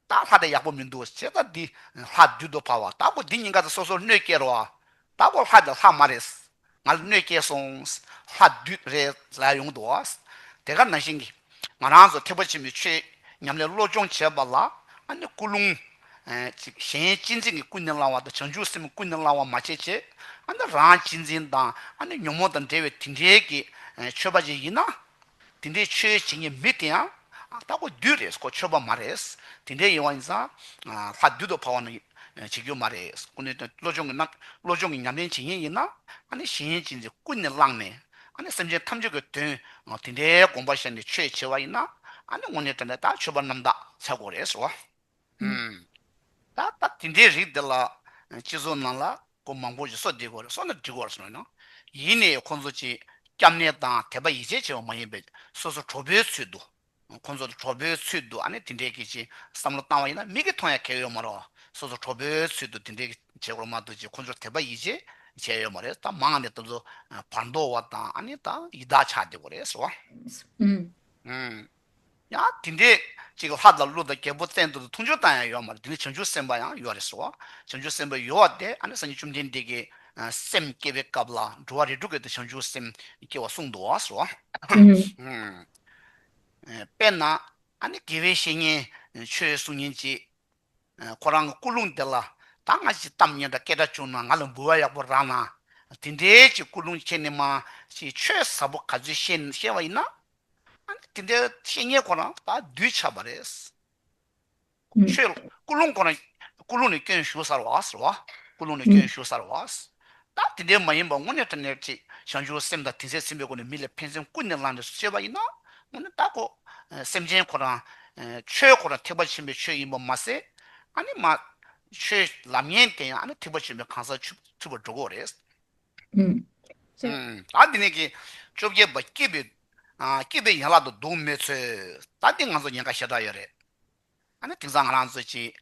ད་ལྷ་དེ་ཡག་པོ་མི་འདུག་ཅེས་ད་འདི་ལྷ་བདུད་དུ་བར་བ་ད་གོ་འདི་གཉིས་ཀ་དང་སོ་སོར་གནོད་སྐྱེལ་རོགས་ད་གོ་ལྷ་འདི་ལྷ་མ་རེད་ང་ལ་གནོད་སྐྱེལ་སོང་ལྷ་བདུད་རེད་ལས་ཡོང་དུ་བ་དེ་ག་ནང་བཞིན་གྱི་ང་རང་ཚོ་ཐེག་པ་ཆེན་པོའི་ཆོས་ཉམས་ལེན་བློ་སྦྱོང་བྱེད་པ་ལ་ཨ་ནི་སྐུ་རླུང། གཅིག་གཞན་གཅེས་འཛིན་གྱི་ཀུན་ནས་བསླང་བ་དང་བྱང་ཆུབ་སེམས་ཀུན་ནས་བསླང་བ་མ་བྱེད་ཅེས་ཨ་ནི་རང་གཅེས་འཛིན་དང་ཨ་ནི་ཉོན་མོངས་དང་འབྲེལ་བའི་དེ་འདྲའི་གི་ཆོས་པ་ཅིག་ཡིན་ན། དེ་འདྲའི་ཆོས་བྱེད་མཁན་མི་དེ་ཡང་ལྟ་སྐོར་བདུད་རེད་སྐོར་ཆོས་པ་མ་རེད། དེ་འདྲའི་ཡིན་བ་ཡིན་ཙང་ལྷ་བདུད་དུ་འཕགས་བ་ནི་བྱེད་རྒྱུ་མ་རེད་སྐུ་ནི་བློ་སྦྱོང་གི་རྣམ་བློ་སྦྱོང་གི་ཉམས་ལེན་བྱེད་མཁན་ཡིན་ན་ཨ་ནི་གཞན་གཅེས་འཛིན་ཀུན་ནས་བླངས་ནས་ཨ་ནི་སེམས་ཅན་ཐམས་ཅད་ཀྱི་དོན་དེ་འདྲའི་དགོངས་པ་བཞག་ནས་ཆོས་བྱེད་བ་ཡིན་ན་ཨ་ནི་དངོས་གནས་དེ་འདྲ་དག་ཆོས་པ་རྣམས་དག་ཚལ་གོ་རེད་ཟེར་བ། ད་ལྟ་དེ་འདྲའི་རིགས་འདི་ལ་སྤྱི་ཚོགས་ནང་ལ་སྐོར་མང་པོ་ཞིག་གསོ་བདེ་སྐོར་གསོ་ན་འགྲིག་སྐོར་གསུངས་ཡོད་ན། ཡིན་ནའི་ཁོང་ཚོ་ཅིག་སྐྱབས་གནས་དང་དད་པ་ཡིད་ཆེས་ཆེ་བ་མ་ཡིན་པའི་སོ་སོ་གྲོགས་པོའི་ཚུལ་དུ། ཁོང་ཚོ་གྲོགས་པོའི་ཚུལ་དུ་ཨ་ནི་དེ་འདྲའི་གི་ཅིག་བསམ་བློ་བཏང་བ་ཡིན་ན་མིག་གིས་མཐོང་ཡ་གལ་ཡོད་མ་རེད། སོ་སོ་གྲོགས་པོའི་ཚུལ་དུ་དེ་འདྲའི་གི་བྱེད་སྐོར་མ་འདུག་ཅིག་ཁོང་ཚོར་དད་པ་ཡིད་ཆེས་བྱས་ཡོད་མ་རེད་ད་མང་ནས་ད་ཚོ་བར་མདོ་བ་དང་ཨ་ནི་ད་ཡི་དྭགས་ཆགས་བདེ་སྐོར་རེད་ཟེར་བ། ཡང་དེ་འདྲའི་ཅིག་ལྷ་དང་ཀླུ་དང་རྒྱལ་པོ་བསྟན་དུ་འཐུང་ཆོས་དང་ཡང་ཡོད་མ་རེད་དེ་ནི་བྱང་ཆུབ་སེམས་དཔའ་ཡང་ཡོད་རེད་སོ། བྱང་ཆུབ་སེམས་དཔའ་ཡོད་བ་དེ་ཨ་ནི་སངས་རྒྱས་བཅོམ་ལྡན་འདས་ཀྱི་སེམས་བསྐྱེད་པའི་སྐབས་ལ་འགྲོ་བ་རིས་དྲུག་གི་དེ་བྱང་ཆུབ་སེམས་སྐྱེ་བ་གསུངས་འདུག་བ་སོ། དཔེར་ན་ཨ་ནི་དགེ་བའི་བཤེས་གཉེན་ཆོས་གསུང་ཉིན་ཅིག་ཁོ་རང་གི་སྐུ་རླུང་དེ་ལ་ད་སྔ་ཅིག་གཏམ་སྙན་གྲགས་སྐད་གྲགས་བྱུང་ན་ང་ལ་འབུལ་བ་ཡག་པོ་རག་ན་དེ་འདྲའི་ཅིག་སྐུ་རླུང་ཁྱེད་ནི་མ་ཤེས་ཆོས་ཟབ་པོ་ག་ཚོད་ཤེས་བ་ཡིན་ན་དེ་འདྲའི་བཤེས་གཉེན་ཁོ་རང་ད་གདུལ་བྱ་བ་རེད། ཆོས་སྐུ་ལུང་ཁོ་རང་སྐུ་ལུང་ནས་སྐྱོན་ཞུ་སར་བ། སྐུ་ལུང་ནས་སྐྱོན་ཞུ་སར་བ། ད་དེ་འདྲའི་མ་ཡིན་པར་དངོས་གནས་ཏྲ་ནེར་ཅིག་བྱང་ཆུབ་སེམས་དང་དེ་ཚེ་ཚིམ་པའི་སྒོ་ནས་མི་ལ་ཕན་སེམས་སྐུ་ནས་བླངས་ནས་སུ་གསོལ་བ་ཡིན་ན། དངོས་གནས་ད་ཁོ་སེམས་ཅན་ཁོ་རང། ཆོས་ཁོ་རང་ཐེག་པ་ཆེན་པོའི་ཆོས་ཡིན་པར་མ་ཟད། ཨ་ནི་མ། ཆོས་ལམ་ཡན་དེ་ཡང་ཨ་ནི་ཐེག་པ་ཆེན་པོའི་གང་ཟག་ཆུབ་ཚུལ་བར་འགྲོ་དགོས་རེད། ད་འདི་ནས་ཀྱི། བཅོ་བརྒྱད་པ་སྐྱིད་པའི། སྐྱིད་པའི་ཡན་ལག་ཏུ་འདུག་མོད་ཚོད། ད་འདི་ང་ཚོ་ཉེན་ཁ་ཞེ་དྲག་ཡོད་རེད། ཨ་ནི་དེང་སང་ང་རང་ཚོ་ཀྱི།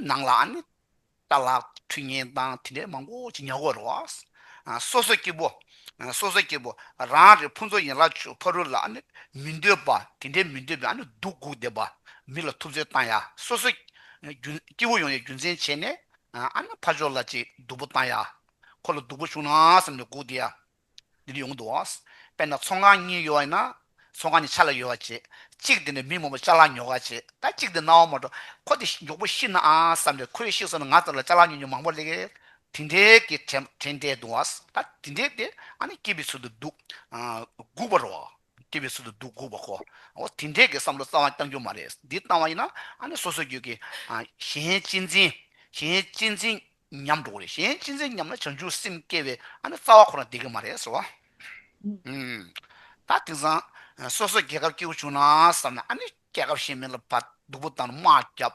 ནང་ལ་ཨ་ནི། རྟ་ལག་འཕྲུལ་ངན་དང་དེ་འདྲའི་མང་པོ་ཅི་ཉག་གོ་རེད། སོ་སོ་སྐྱིད་པོ། སོ་སོ་སྐྱིད་པོ། རང་རེ་ཕུན་ཚོགས་ཡན་ལག་ཆུ་ཕ་རུ་ལ་ཨ་ནི། མི་འདོད་པ་དེ་འདྲའི་མི་འདོད་པའི་ཨ་ནི་སྡུག་སྒུག་བསྡད་པ། མི་ལ་ཐུབ་ཚོད་བཏང་ཡ་སོ་སོ། སྐྱིད་པོ་ཡོང་ཡའི་རྒྱུ་མཚན་བྱས་ནས། ཨ་ནི་ཕ་ཕྱོགས་ལ་ཅིག་སྡུག་པོ་བཏང་ཡ། ཁོ་ལ་སྡུག་པོ་བྱུང་ན་བསམ་ནས་སྒུག་བསྡད། འདི་ནི་ཡོང་གི་འདུག་དཔེར་ན་ཚོང་ཁང་གཉིས་ཡོད་བ་ཡིན་ན། ཚོང་ཁང་གཉིས་ཆ་ལ་ཡོད་བ་བྱེད། གཅིག་དེ་ནས་མི་མང་པོ་ལྕགས་ལ་ཉོ་ག་བྱེད། ད་གཅིག་དེ་ནའང་མ་འགྲོ། ཁོ་དེ་མགྱོགས་པོ་ཤི་ནའང་བསམ་ནས་ཁོས་ཤི་སོང་ན་ང་ཚོ་ལ་ལྕགས་ལ་ཉོ་ཉོ་མང་པོ་ལེགས། དེ་འདྲའི་གི་དྲན་བསྡད་འདུག་ད་དེ་འདྲའི་དེ་ཨ་ནི་སྐྱིད་པའི་ཚུལ་དུ་སྡུག་སྒུག་པར་རོ། སྐྱིད་པའི་ཚུལ་དུ་སྡུག་སྒུག་པ་ཁོ། འོ་དེ་འདྲའི་གི་བསམ་བློ་རྩ་བ་བརྐྱང་རྒྱུ་མ་རེད། འདི་བཏང་བ་ཡིན་ན་ཨ་ནི་སོ་སོའི་རྒྱུད་ཀྱི། གཞན་གཅེས་འཛིན། གཞན་གཅེས་འཛིན། ཉམས་འགྲོ་གི་རེད་གཞན་ཅི་འཛིན་སྙམ་ན་བྱང་ཆུབ་སེམས་སྐྱེ་བའི་ཨ་ནི་རྩ་བ་ཁོ་ན་བདེ་གི་མ་རེད་ཟེར་བ། ད་དེང་སང་སོ་སོ་རྒྱལ་ཁབ་སྐྱེ་རྒུ་བྱུང་ན་བསམ་ན་ཨ་ནི་རྒྱལ་ཁབ་གཞན་མིན་ལ་བ་སྡུག་པོ་དང་དམག་རྒྱབ་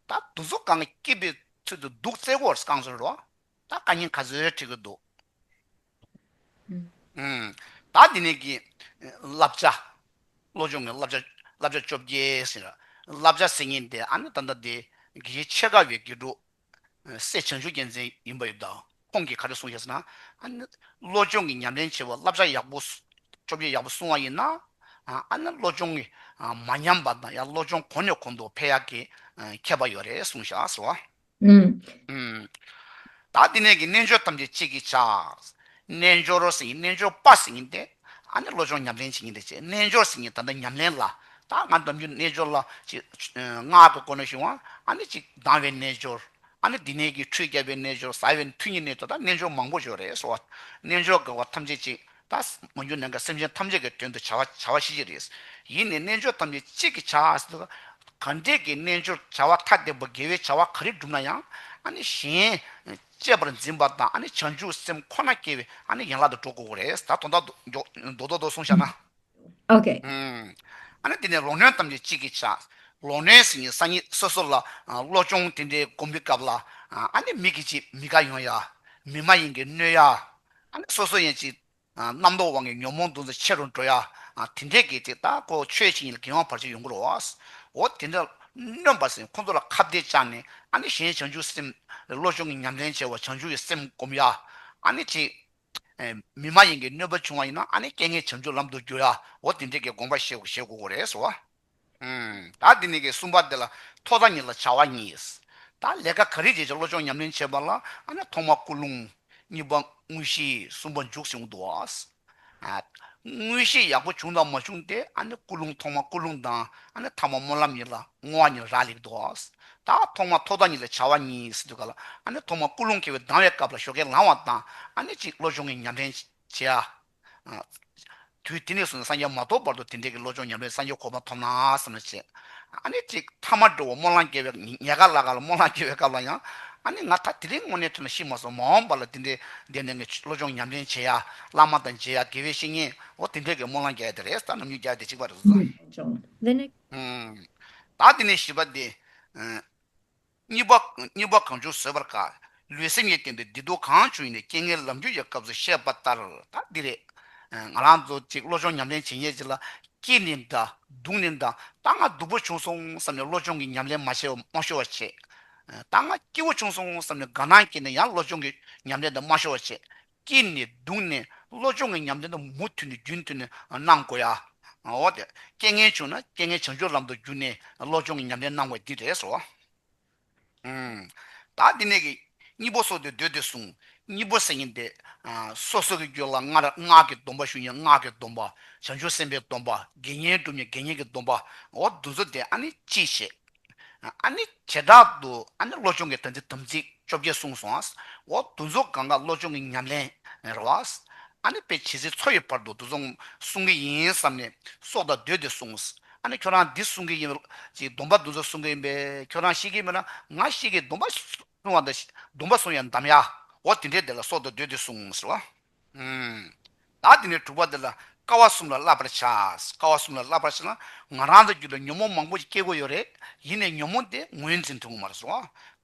ད་འདུ་ཚོགས་གང་གི་སྐྱིད་པའི་ཚུལ་དུ་སྡུག་བརྩེ་གོ་གང་ཟེར་རོ་ད་བཀའ་རྙིང་ག་ཚོད་བྲི་གི་འདུག་ད་འདི་ནས་གི་བསླབ་བྱ་བློ་སྦྱོང་གི་བསླབ་བྱ་བསླབ་བྱ་བཅོ་བརྒྱད་ཟེར་བསླབ་བྱ་ཟེར་ཉིན་དེ་ཨ་ནི་ད་ལྟ་འདི་གི་ཆེས་དགའ་བའི་དགེ་ཕྲུག་སྲས་བྱང་ཆུབ་རྒྱལ་མཚན་ཡིན་པ་ཡོད་དོ། ཁོང་གིས་ག་རེ་གསུངས་ཞེས་ན། བློ་སྦྱོང་གི་ཉམས་ལེན་བྱེད་པར་བསླབ་བྱ་ཡག་པོ་བཅོ་བརྒྱད་ཡག་པོ་སྲུང་བ་ཡིན་ན། ཨ་ནི་བློ་སྦྱོང་གི་མ་ཉམས་པ་དང་ཡང་བློ་སྦྱོང་གོང་ནས་གོང་དུ་འཕེལ་ཡག་གི་ཁྱད་པར་ཡོད་རེད་གསུངས་ཞེས་ཟེར་བ། ད་འདི་ནས་ཀྱི་རྣལ་འབྱོར་ཐམས་ཅད་གཅིག་གིས་བྱ། རྣལ་འབྱོར་སེམས་ཀྱི་རྣལ་འབྱོར་པ་ཟིན་ངེས་ཏེ། ཨ་ནི་བློ་སྦྱོང་ཉམས་ལེན་བྱེད་ངེས་ཏེ་ཅེས་རྣལ་འབྱོར་ཟིན་ངེས་ད་ལྟ་ཉམས་ལེན་ལ། ད་ང་འདོམས་རྒྱུ་རྣལ་འབྱོར་ལ། ཅེསངག་གི་སྐོར་ནས་བཤུང་བ། ཨ་ནི་གཅིག་ལྡང་བའི་རྣལ་འབྱོར། ཨ་ནི་དེ་ནས་ཀྱི་འཕྲོས་བསྐྱབ་པའི་རྣལ་འབྱོར་ཟ་བའི་མཐུ་ཉིད་ནི་ད་ལྟ་རྣལ་འབྱོར་མང་པོ་འབྱོར་རེ་སོ། རྣལ་འབྱོར་དགག་བ་ཐམས་ཅད་གཅིག་ད་མ་འགྱུར་ནའང་སེམས་ཅན་ཐམས་ཅད་ཀྱི་དོན་དུ་བྱ་བ་བྱ་བ་ཤེས་བྱེད་རེ། ཡིད་ནི་རྣལ་འབྱོར་ཐམས་ཅད་གཅིག་གི་བྱ། གང་འདྲས་ཀྱི་རྣལ་འབྱོར་བྱ་བ་ཐ་དད་པོ་དགེ་བའི་བྱ་བ་ག་རེ་བསྒྲུབ་ན་ཡང། ཨ་ནི་གཞན། བཅས་པར་འཛིན་པ་དང་བྱང་ཆུབ་སེམས་ཁོ་ན་སྐྱེ་བའི་ཡན་ལག་ཏུ་འགྲོ་དགོས་པ་རེད། ད་དོན་དག་མདོ་དོན་དུ་གསུངས་བྱ་ན། དེ་ནས་ལོག་གནོན་ཐམས་ཅད་གཅིག་གིས་བྱ། ལོག་གནོན་ཟིན་གྱི་སང་ཉིན་སོ་སོ་ལ་བློ་སྦྱོང་དེ་འདྲའི་སྒོམ་པའི་སྐབས་ལ། མིག་གིས་ཅིག་མི་དགའ་ཡོང་ཡ། མིག་མ་ཡིན་གྱི་གནོད་ཡ། སོ་སོ་ཡན་ཅིག་རྣམ་རྟོག་དབང་གིས་ཉོན་མོངས་འདུ་འཛི་ཆེ་རུ་འགྲོ་ཡ། དེ་འདྲའི་གེགས་དེ་དག་གོ་ཆོད་ཕྱིན་ཡིད་ལ་འགེང་བ་བར་ཆད་ཡོང་དགོས་རོ། འོ་དེ་འདྲ་སྨྱོན་པ་སེམས་ཁོ་ཚོ་ལ་ཁ་བརྡས་བཅག་ནས་ཨ་ནི་གཞན་བྱང་ཆུབ་སེམས། བློ་སྦྱོང་གི་ཉམས་ལེན་བྱས་བ་བྱང་ཆུབ་ཀྱི་སེམས་བསྒོམ་ཡ། ཨ་ནི་དེ། མི་མ་ཡིན་གྱི་གནོད་པ་བྱུང་བ་ཡིན་ན་ཨ་ནི་རྐྱེན་ངན་བྱང་ཆུབ་ལམ་དུ་བསྒྱུར་ཡ། འོ་དེ་འདྲའི་གེགས་དགོངས་པ་བཞེས་དགོས་རེད་ཟེར་བ། ད་འདི་ནས་ཀྱི་གསུམ་པ་འདི་ལ་ཐོག་མཐའ་གཉིས་ལ་བྱ་བ་གཉིས། ད་ལས་ཀ་ག་རེ་བྱས་ཀྱང་བློ་སྦྱོང་ཉམས་ལེན་བྱེད་པ་ལ་ཨ་ན་ཐོག་མ་ཀུན་སློང། གཉིས་པ་དངོས་གཞི་གསུམ་པ་འཇུག་བྱུང་དུ་བ། དངོས་གཞི་ཡག་པོ་བྱུང་དང་མ་བྱུང་དེ་ཨ་ནི་ཀུན་སློང་ཐོག་མ་ཀུན་སློང་དང་ཨ་ན་ཐ་མ་སྨོན་ལམ་གཉིས་ལ་བསྔོ་བ་གཉིས་རག་ལས་དུ་བ། ད་ཐོག་མ་ཐོག་མཐའ་གཉིས་ལ་བྱ་བ་གཉིས་ཟེར་དུས་ག་ལ་ཨ་ནི་ཐོག་མ་ཀུན་སློང་ཁེལ་བའི་སྡང་བའི་སྐབས་ལ་ཞོ་ཁའི་ལང་བ་དང་ཨ་ནི་གཅིག་བློ་སྦྱོང་གི་ཉམས་ལེན་བྱེད། དུས་དེ་ནས་བཟུང་ནས་སངས་རྒྱས་མ་ཐོབ་བར་དུ་དེ་འབྲེལ་གྱི་བློ་སྦྱོང་ཉམས་རེ་སངས་རྒྱས་གོ་འཕང་ཐོབ་ན་བསམ་ལ་བྱས། ཨ་ནི་གཅིག་ཐ་མར་འགྲོ་བ་སྨོན་ལམ་བསྐྱལ་བའི་ཉལ་ཁ་ལ་ག་ལ་སྨོན་ལམ་བསྐྱལ་བའི་སྐབས་ལ་ཡང། ཨ་ནི་ང་ད་དེ་རིང་དངོས་གནས་ཐུགས་ན་ཤི་མ་སོང་མ་འོངས་པ་ལ་དེ་འདྲའི་བདེན་ལྡན་གྱི་བློ་སྦྱོང་ཉམས་ལེན་བྱེད་ཡ། བླ་མ་དང་མཇལ་ཡ་དགེ་བའི་བཤེས་གཉེན་འོ་དེ་འབྲེལ་གྱི་སྨོན་ལམ་བསྐྱལ་ཡ་དེ་རེད་བསམ་ནམ་ཉུག་བརྒྱག་དེ་གཅིག་པ་རེད། ད་དེ་ནས། གཉིས་པ། གང་བྱུང་བཟོད་པར་དཀའ། ལུས་སེམས་གཉིས་བརྟེན་པའི་བདེ་སྡུག་གང་བྱུང་ཡིན་ནའི་རྐྱེན་ངན་ལམ་རྒྱུད་ཀྱི་སྐབས་སུ་བཤད་པ་ལྟར་ད་འདི་རེད། ང་རང་ཚོ་གཅིག་བློ་སྦྱོང་ཉམས་ལེན་བྱེད་ཉེས་ཅིག་ལ། སྐྱིད་ནི་འདའ། སྡུག་ནི་འདའ། ད་ང་སྡུག་པོ་བྱུང་སོང་བསམ་ནས་བློ་སྦྱོང་གི་ཉམས་ལེན་མ་བྱས་པར་མ་ཤོར་བར་བྱེད། ད་ང་སྐྱིད་པོ་བྱུང་སོང་བསམ་ནས་དགའ་སྣང་སྐྱེས་ནས་ཡང་བློ་སྦྱོང་གི་ཉམས་ལེན་དང་མ་ཤོར་བར་བྱེད། སྐྱིད་ནས་སྡུག་ནས་བློ་སྦྱོང་གི་ཉམས་ལེན་དུ་མུ་མཐུད་ནས་རྒྱུན་མཐུད་ནས་གནང་དགོས། ཡང་རྐྱེན་ངན་བྱུང་ན་རྐྱེན་ངན་བྱང་ཆུབ་ལམ་དུ་བསྒྱུར་ནས་བློ་སྦྱོང་གི་ཉམས་ལེན་གནང་བས་འདི་རེད་ཟེར་བ། བདག་འདི་ནས་ཀྱི། གཉིས་པོ་སྲོག་དེ་འདོད་དེ་གསུངས། གཉིས་པོ་སེམས་ཉིད་དེ། སོ་སོ་གི་རྒྱུད་ལ་སྔར་སྔགས་ཀྱི་སྡོམ་པ་ཞུ་ཉིན་སྔགས་ཀྱི་སྡོམ་པ། བྱང་ཆུབ་སེམས་དཔའི་སྡོམ་པ། དགེ་བསྙེན་བསྒྲུབ་ཉིན་དགེ་བསྙེན་གྱི་སྡོམ་པའོ། འདུ་འཛོ་དེ་ཨ་ནི་ཅིའི་ཕྱིར། ཨཱ་ནི་བྱེ་བྲག་ཏུ་ཨཱ་ནི་བློ་སྦྱོང་གི་དོན་ཏེ་དམ་ཚིག་བཅོ་བརྒྱད་གསུངས་སོ། འོག་འདུ་འཛོ་ག་འགག་བློ་སྦྱོང་གི་ཉམས་ལེན་རེད་བ། ཨཱ་ནི་དཔེ་བྱེད་ཚེ་ཚོགས་ཡོད་བར་དུ་འདུ་འཛོ་གསུང་གི་ཡིན་བསམ་ནས་སྲོག་དང་བསྡོས་ཏེ་གསུངས། ཨཱ་ནི་ཁྱོད་རང་འདི་གསུང་གི་ཡིན་ཅིག་སྡོམ་པ་འདུ་འཛོ་གསུང་གི་ཡིན་པས་ཁྱོད་རང་ཤེས་ཀྱི་མེད་ན་ང་ཤེས་ཀྱི་སྡོམ་པ་གསུང་བ་དང་སྡོམ་པ་གསུང་ཡང་འདམ་ཡའོ་དེ་འདྲའི་དེ་ལ་སྲོག་དང་བསྡོས་ཏེ་གསུངས། བདག་འདི་ནས་དྲུག་པ་འདི་ལ་དཀའ་བ་གསུམ་ལ་བསླབ་པར་བྱ། དཀའ་བ་གསུམ་ལ་བསླབ་པར་བྱས་ན་ང་རང་དང་རྒྱུད་ལ་ཉོན་མོངས་མང་པོ་ཞིག་སྐྱེ་དགོས་ཡོད་རེད། ཡིན་ནས་ཉོན་མོངས་དེ་ངོས་འཛིན་ཐུབ་ངོ་མ་རེད་སོ།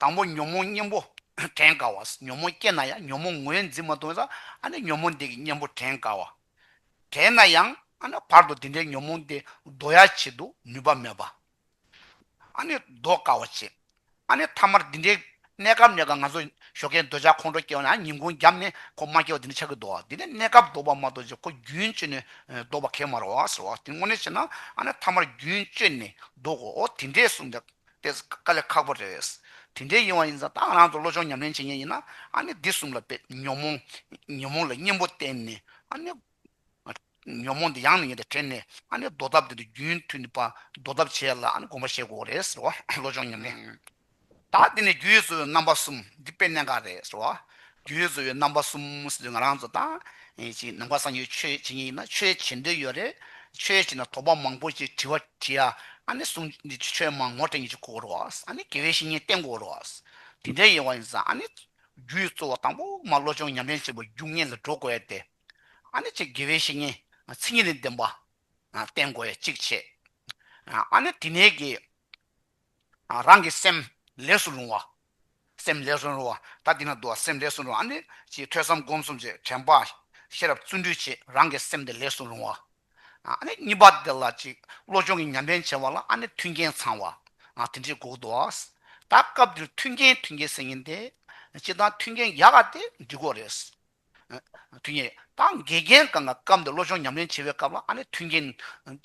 དང་པོ་ཉོན་མོངས་གཉེན་པོ་དྲན་དཀའ་བ། ཉོན་མོངས་སྐྱེས་ན་ཡང་ཉོན་མོངས་ངོས་འཛིན་མ་ཐུབ་ན། ཨ་ནི་ཉོན་མོངས་འདས་ཀྱི་གཉེན་པོ་དྲན་དཀའ་བ། དྲན་ན་ཡང། ཨ་ན་བར་དོ་འདི་འདྲའི་ཉོན་མོངས་འདི་བཟློ་ཡ་བྱེད་དུ་ནུས་པ་མེད་པ། ཨ་ནི་ཟློག་དཀའ་བ་ཅི། ཨ་ནི་ཐ་མར་འདི་འདྲའི་གནས་སྐབས་ནས་ཀྱང་ང་ཚོ་ཞོ་ཁའི་འདོད་ཆགས་ཁོང་ཁྲོ་སྐྱེ་བ་ན་ཉིན་གུང་རྒྱབ་ནས་ཁོ་མ་སྐྱེ་བ་དེ་ནི་ཆགས་ཀྱི་ཟློག་འདི་ནི་གནས་སྐབས་ཟློག་པ་མ་གཏོགས་ཀྱི་ཁོ་རྒྱུན་གཅོད་ནས་ཟློག་པ་གས་མ་རོ་ཟེར་བ་དེ་དངོས་གནས་བྱས་ན་ཨ་ནི་ཐ་མར་རྒྱུན་གཅོད་ནས་ཟློག་གོ་དེ་འདྲས་གསུངས་པའི་དཔེ་དཀའ་ལས་ཁག་པོ་རེད། དེ་འདྲས་ཡིན་བ་ཡིན་ཙང་ད་ང་རང་ཚོ་བློ་སྦྱོང་ཉམས་ལེན་བྱེད་ཉེན་ཡིན་ན་ཨ་ནི་འདི་གསུམ་ལ་དཔེ་ཉོན་མོངས་ལ་གཉེན་པོ་བསྟེན་ནས་ཨ་ནི། ཉོན་མོངས་འདི་ཡང་ནི་ཡིན་ཏེ་དྲན་ནས་ཨ་ནི་འདོར་ཐབས་འདི་འདི་རྒྱུན་མཐུད་ནི་པ་འདོར་ཐབས་བྱས་ལ་ཨ་ནི་སྒོམ་པ་ཞེས་བསྒོ་རེད་ཟེར་བ་བློ་སྦྱོང་ཉམས་ལེན་བདག་འདི་ནི་རྒྱུད་གསོལ་བའི་རྣམ་པ་གསུམ་འདི་དཔེ་གནད་འགག་རེད་ཟེར་བ་རྒྱུད་གསོལ་བའི་རྣམ་པ་གསུམ་ཟེར་དུས་ང་རང་ཚོ་ད་ཅིག་ནམ་མཁའ་གསང་ཡོད་ཆོས་བྱེད་ཉིན་ཡིན་ན་ཆོས་བྱེད་འདོད་ཡོད་རེད་ཆོས་བྱེད་ན་དོགས་པ་མང་པོ་ཅིག་དྲི་བ་དྲིས་ཡ་ཨ་ནི་གསུང་འདི་ཆོས་ཆོས་མང་ངོ་སྤྲད་ཉིན་ཅིག་གོ་རོགས་ཨ་ཨ་ནི་དགེ་བའི་བཤེས་གཉེན་བསྟེན་གོ་རོགས་ཨ་དེ་འདྲའི་ཡེ་བ་ཡིན་ཟ་ཨ་ནི་རྒྱུད་གསོལ་བ་དང་པོ་མ་བློ་སྦྱོང་ཉམས་ལེན་བྱེད་པ་རྒྱུ་དངོས་ལ་འགྲོ་དགོས་ཏེ། ཨ་ནི་ཅིག་དགེ་བའི་བཤེས་གཉེན་ཚིག་ཉིད་ལས་བདེན་པ་བསྟན་དགོས་ཡ་ཅིག་བྱས། ཨ་ནི་དེ་ནས་ཀྱི་རང་གི་སེམས་ལས་སུ་རུང་བ། སེམས་ལས་སུ་རུང་བ་ད་དེ་ན་བསྡུ་བ་སེམས་ལས་སུ་རུང་ཨ་ནི་ཅིག་ཐོས་བསམ་སྒོམ་གསུམ་གྱི་དྲན་པ་ཤེས་རབ་བརྩོན་འགྲུས་བྱས་རང་གི་སེམས་དེ་ལས་སུ་རུང་བ། ཨ་ནི་གཉིས་པ་དེ་ལ་ཅིག་བློ་སྦྱོང་གི་ཉམས་ལེན་བྱས་བ་ལ་ཨ་ནི་མཐུན་རྐྱེན་ཚང་བ་དེ་འདྲའི་འགོག་དུ་བ། ད་སྐབས་འདིར་མཐུན་རྐྱེན་མཐུན་རྐྱེན་ཟེར་ཉིན་དེ་ཅིག་དང་མཐུན་རྐྱེན་ཡག་ག་དེ་འདི་གོ་རེད། མཐུན་རྐྱེན། ད་འགལ་རྐྱེན་གང་གི་སྐབས་འདིར་བློ་སྦྱོང་ཉམས་ལེན་བྱེད་པའི་སྐབས་ལ་ཨ་ནི་མཐུན་རྐྱེན།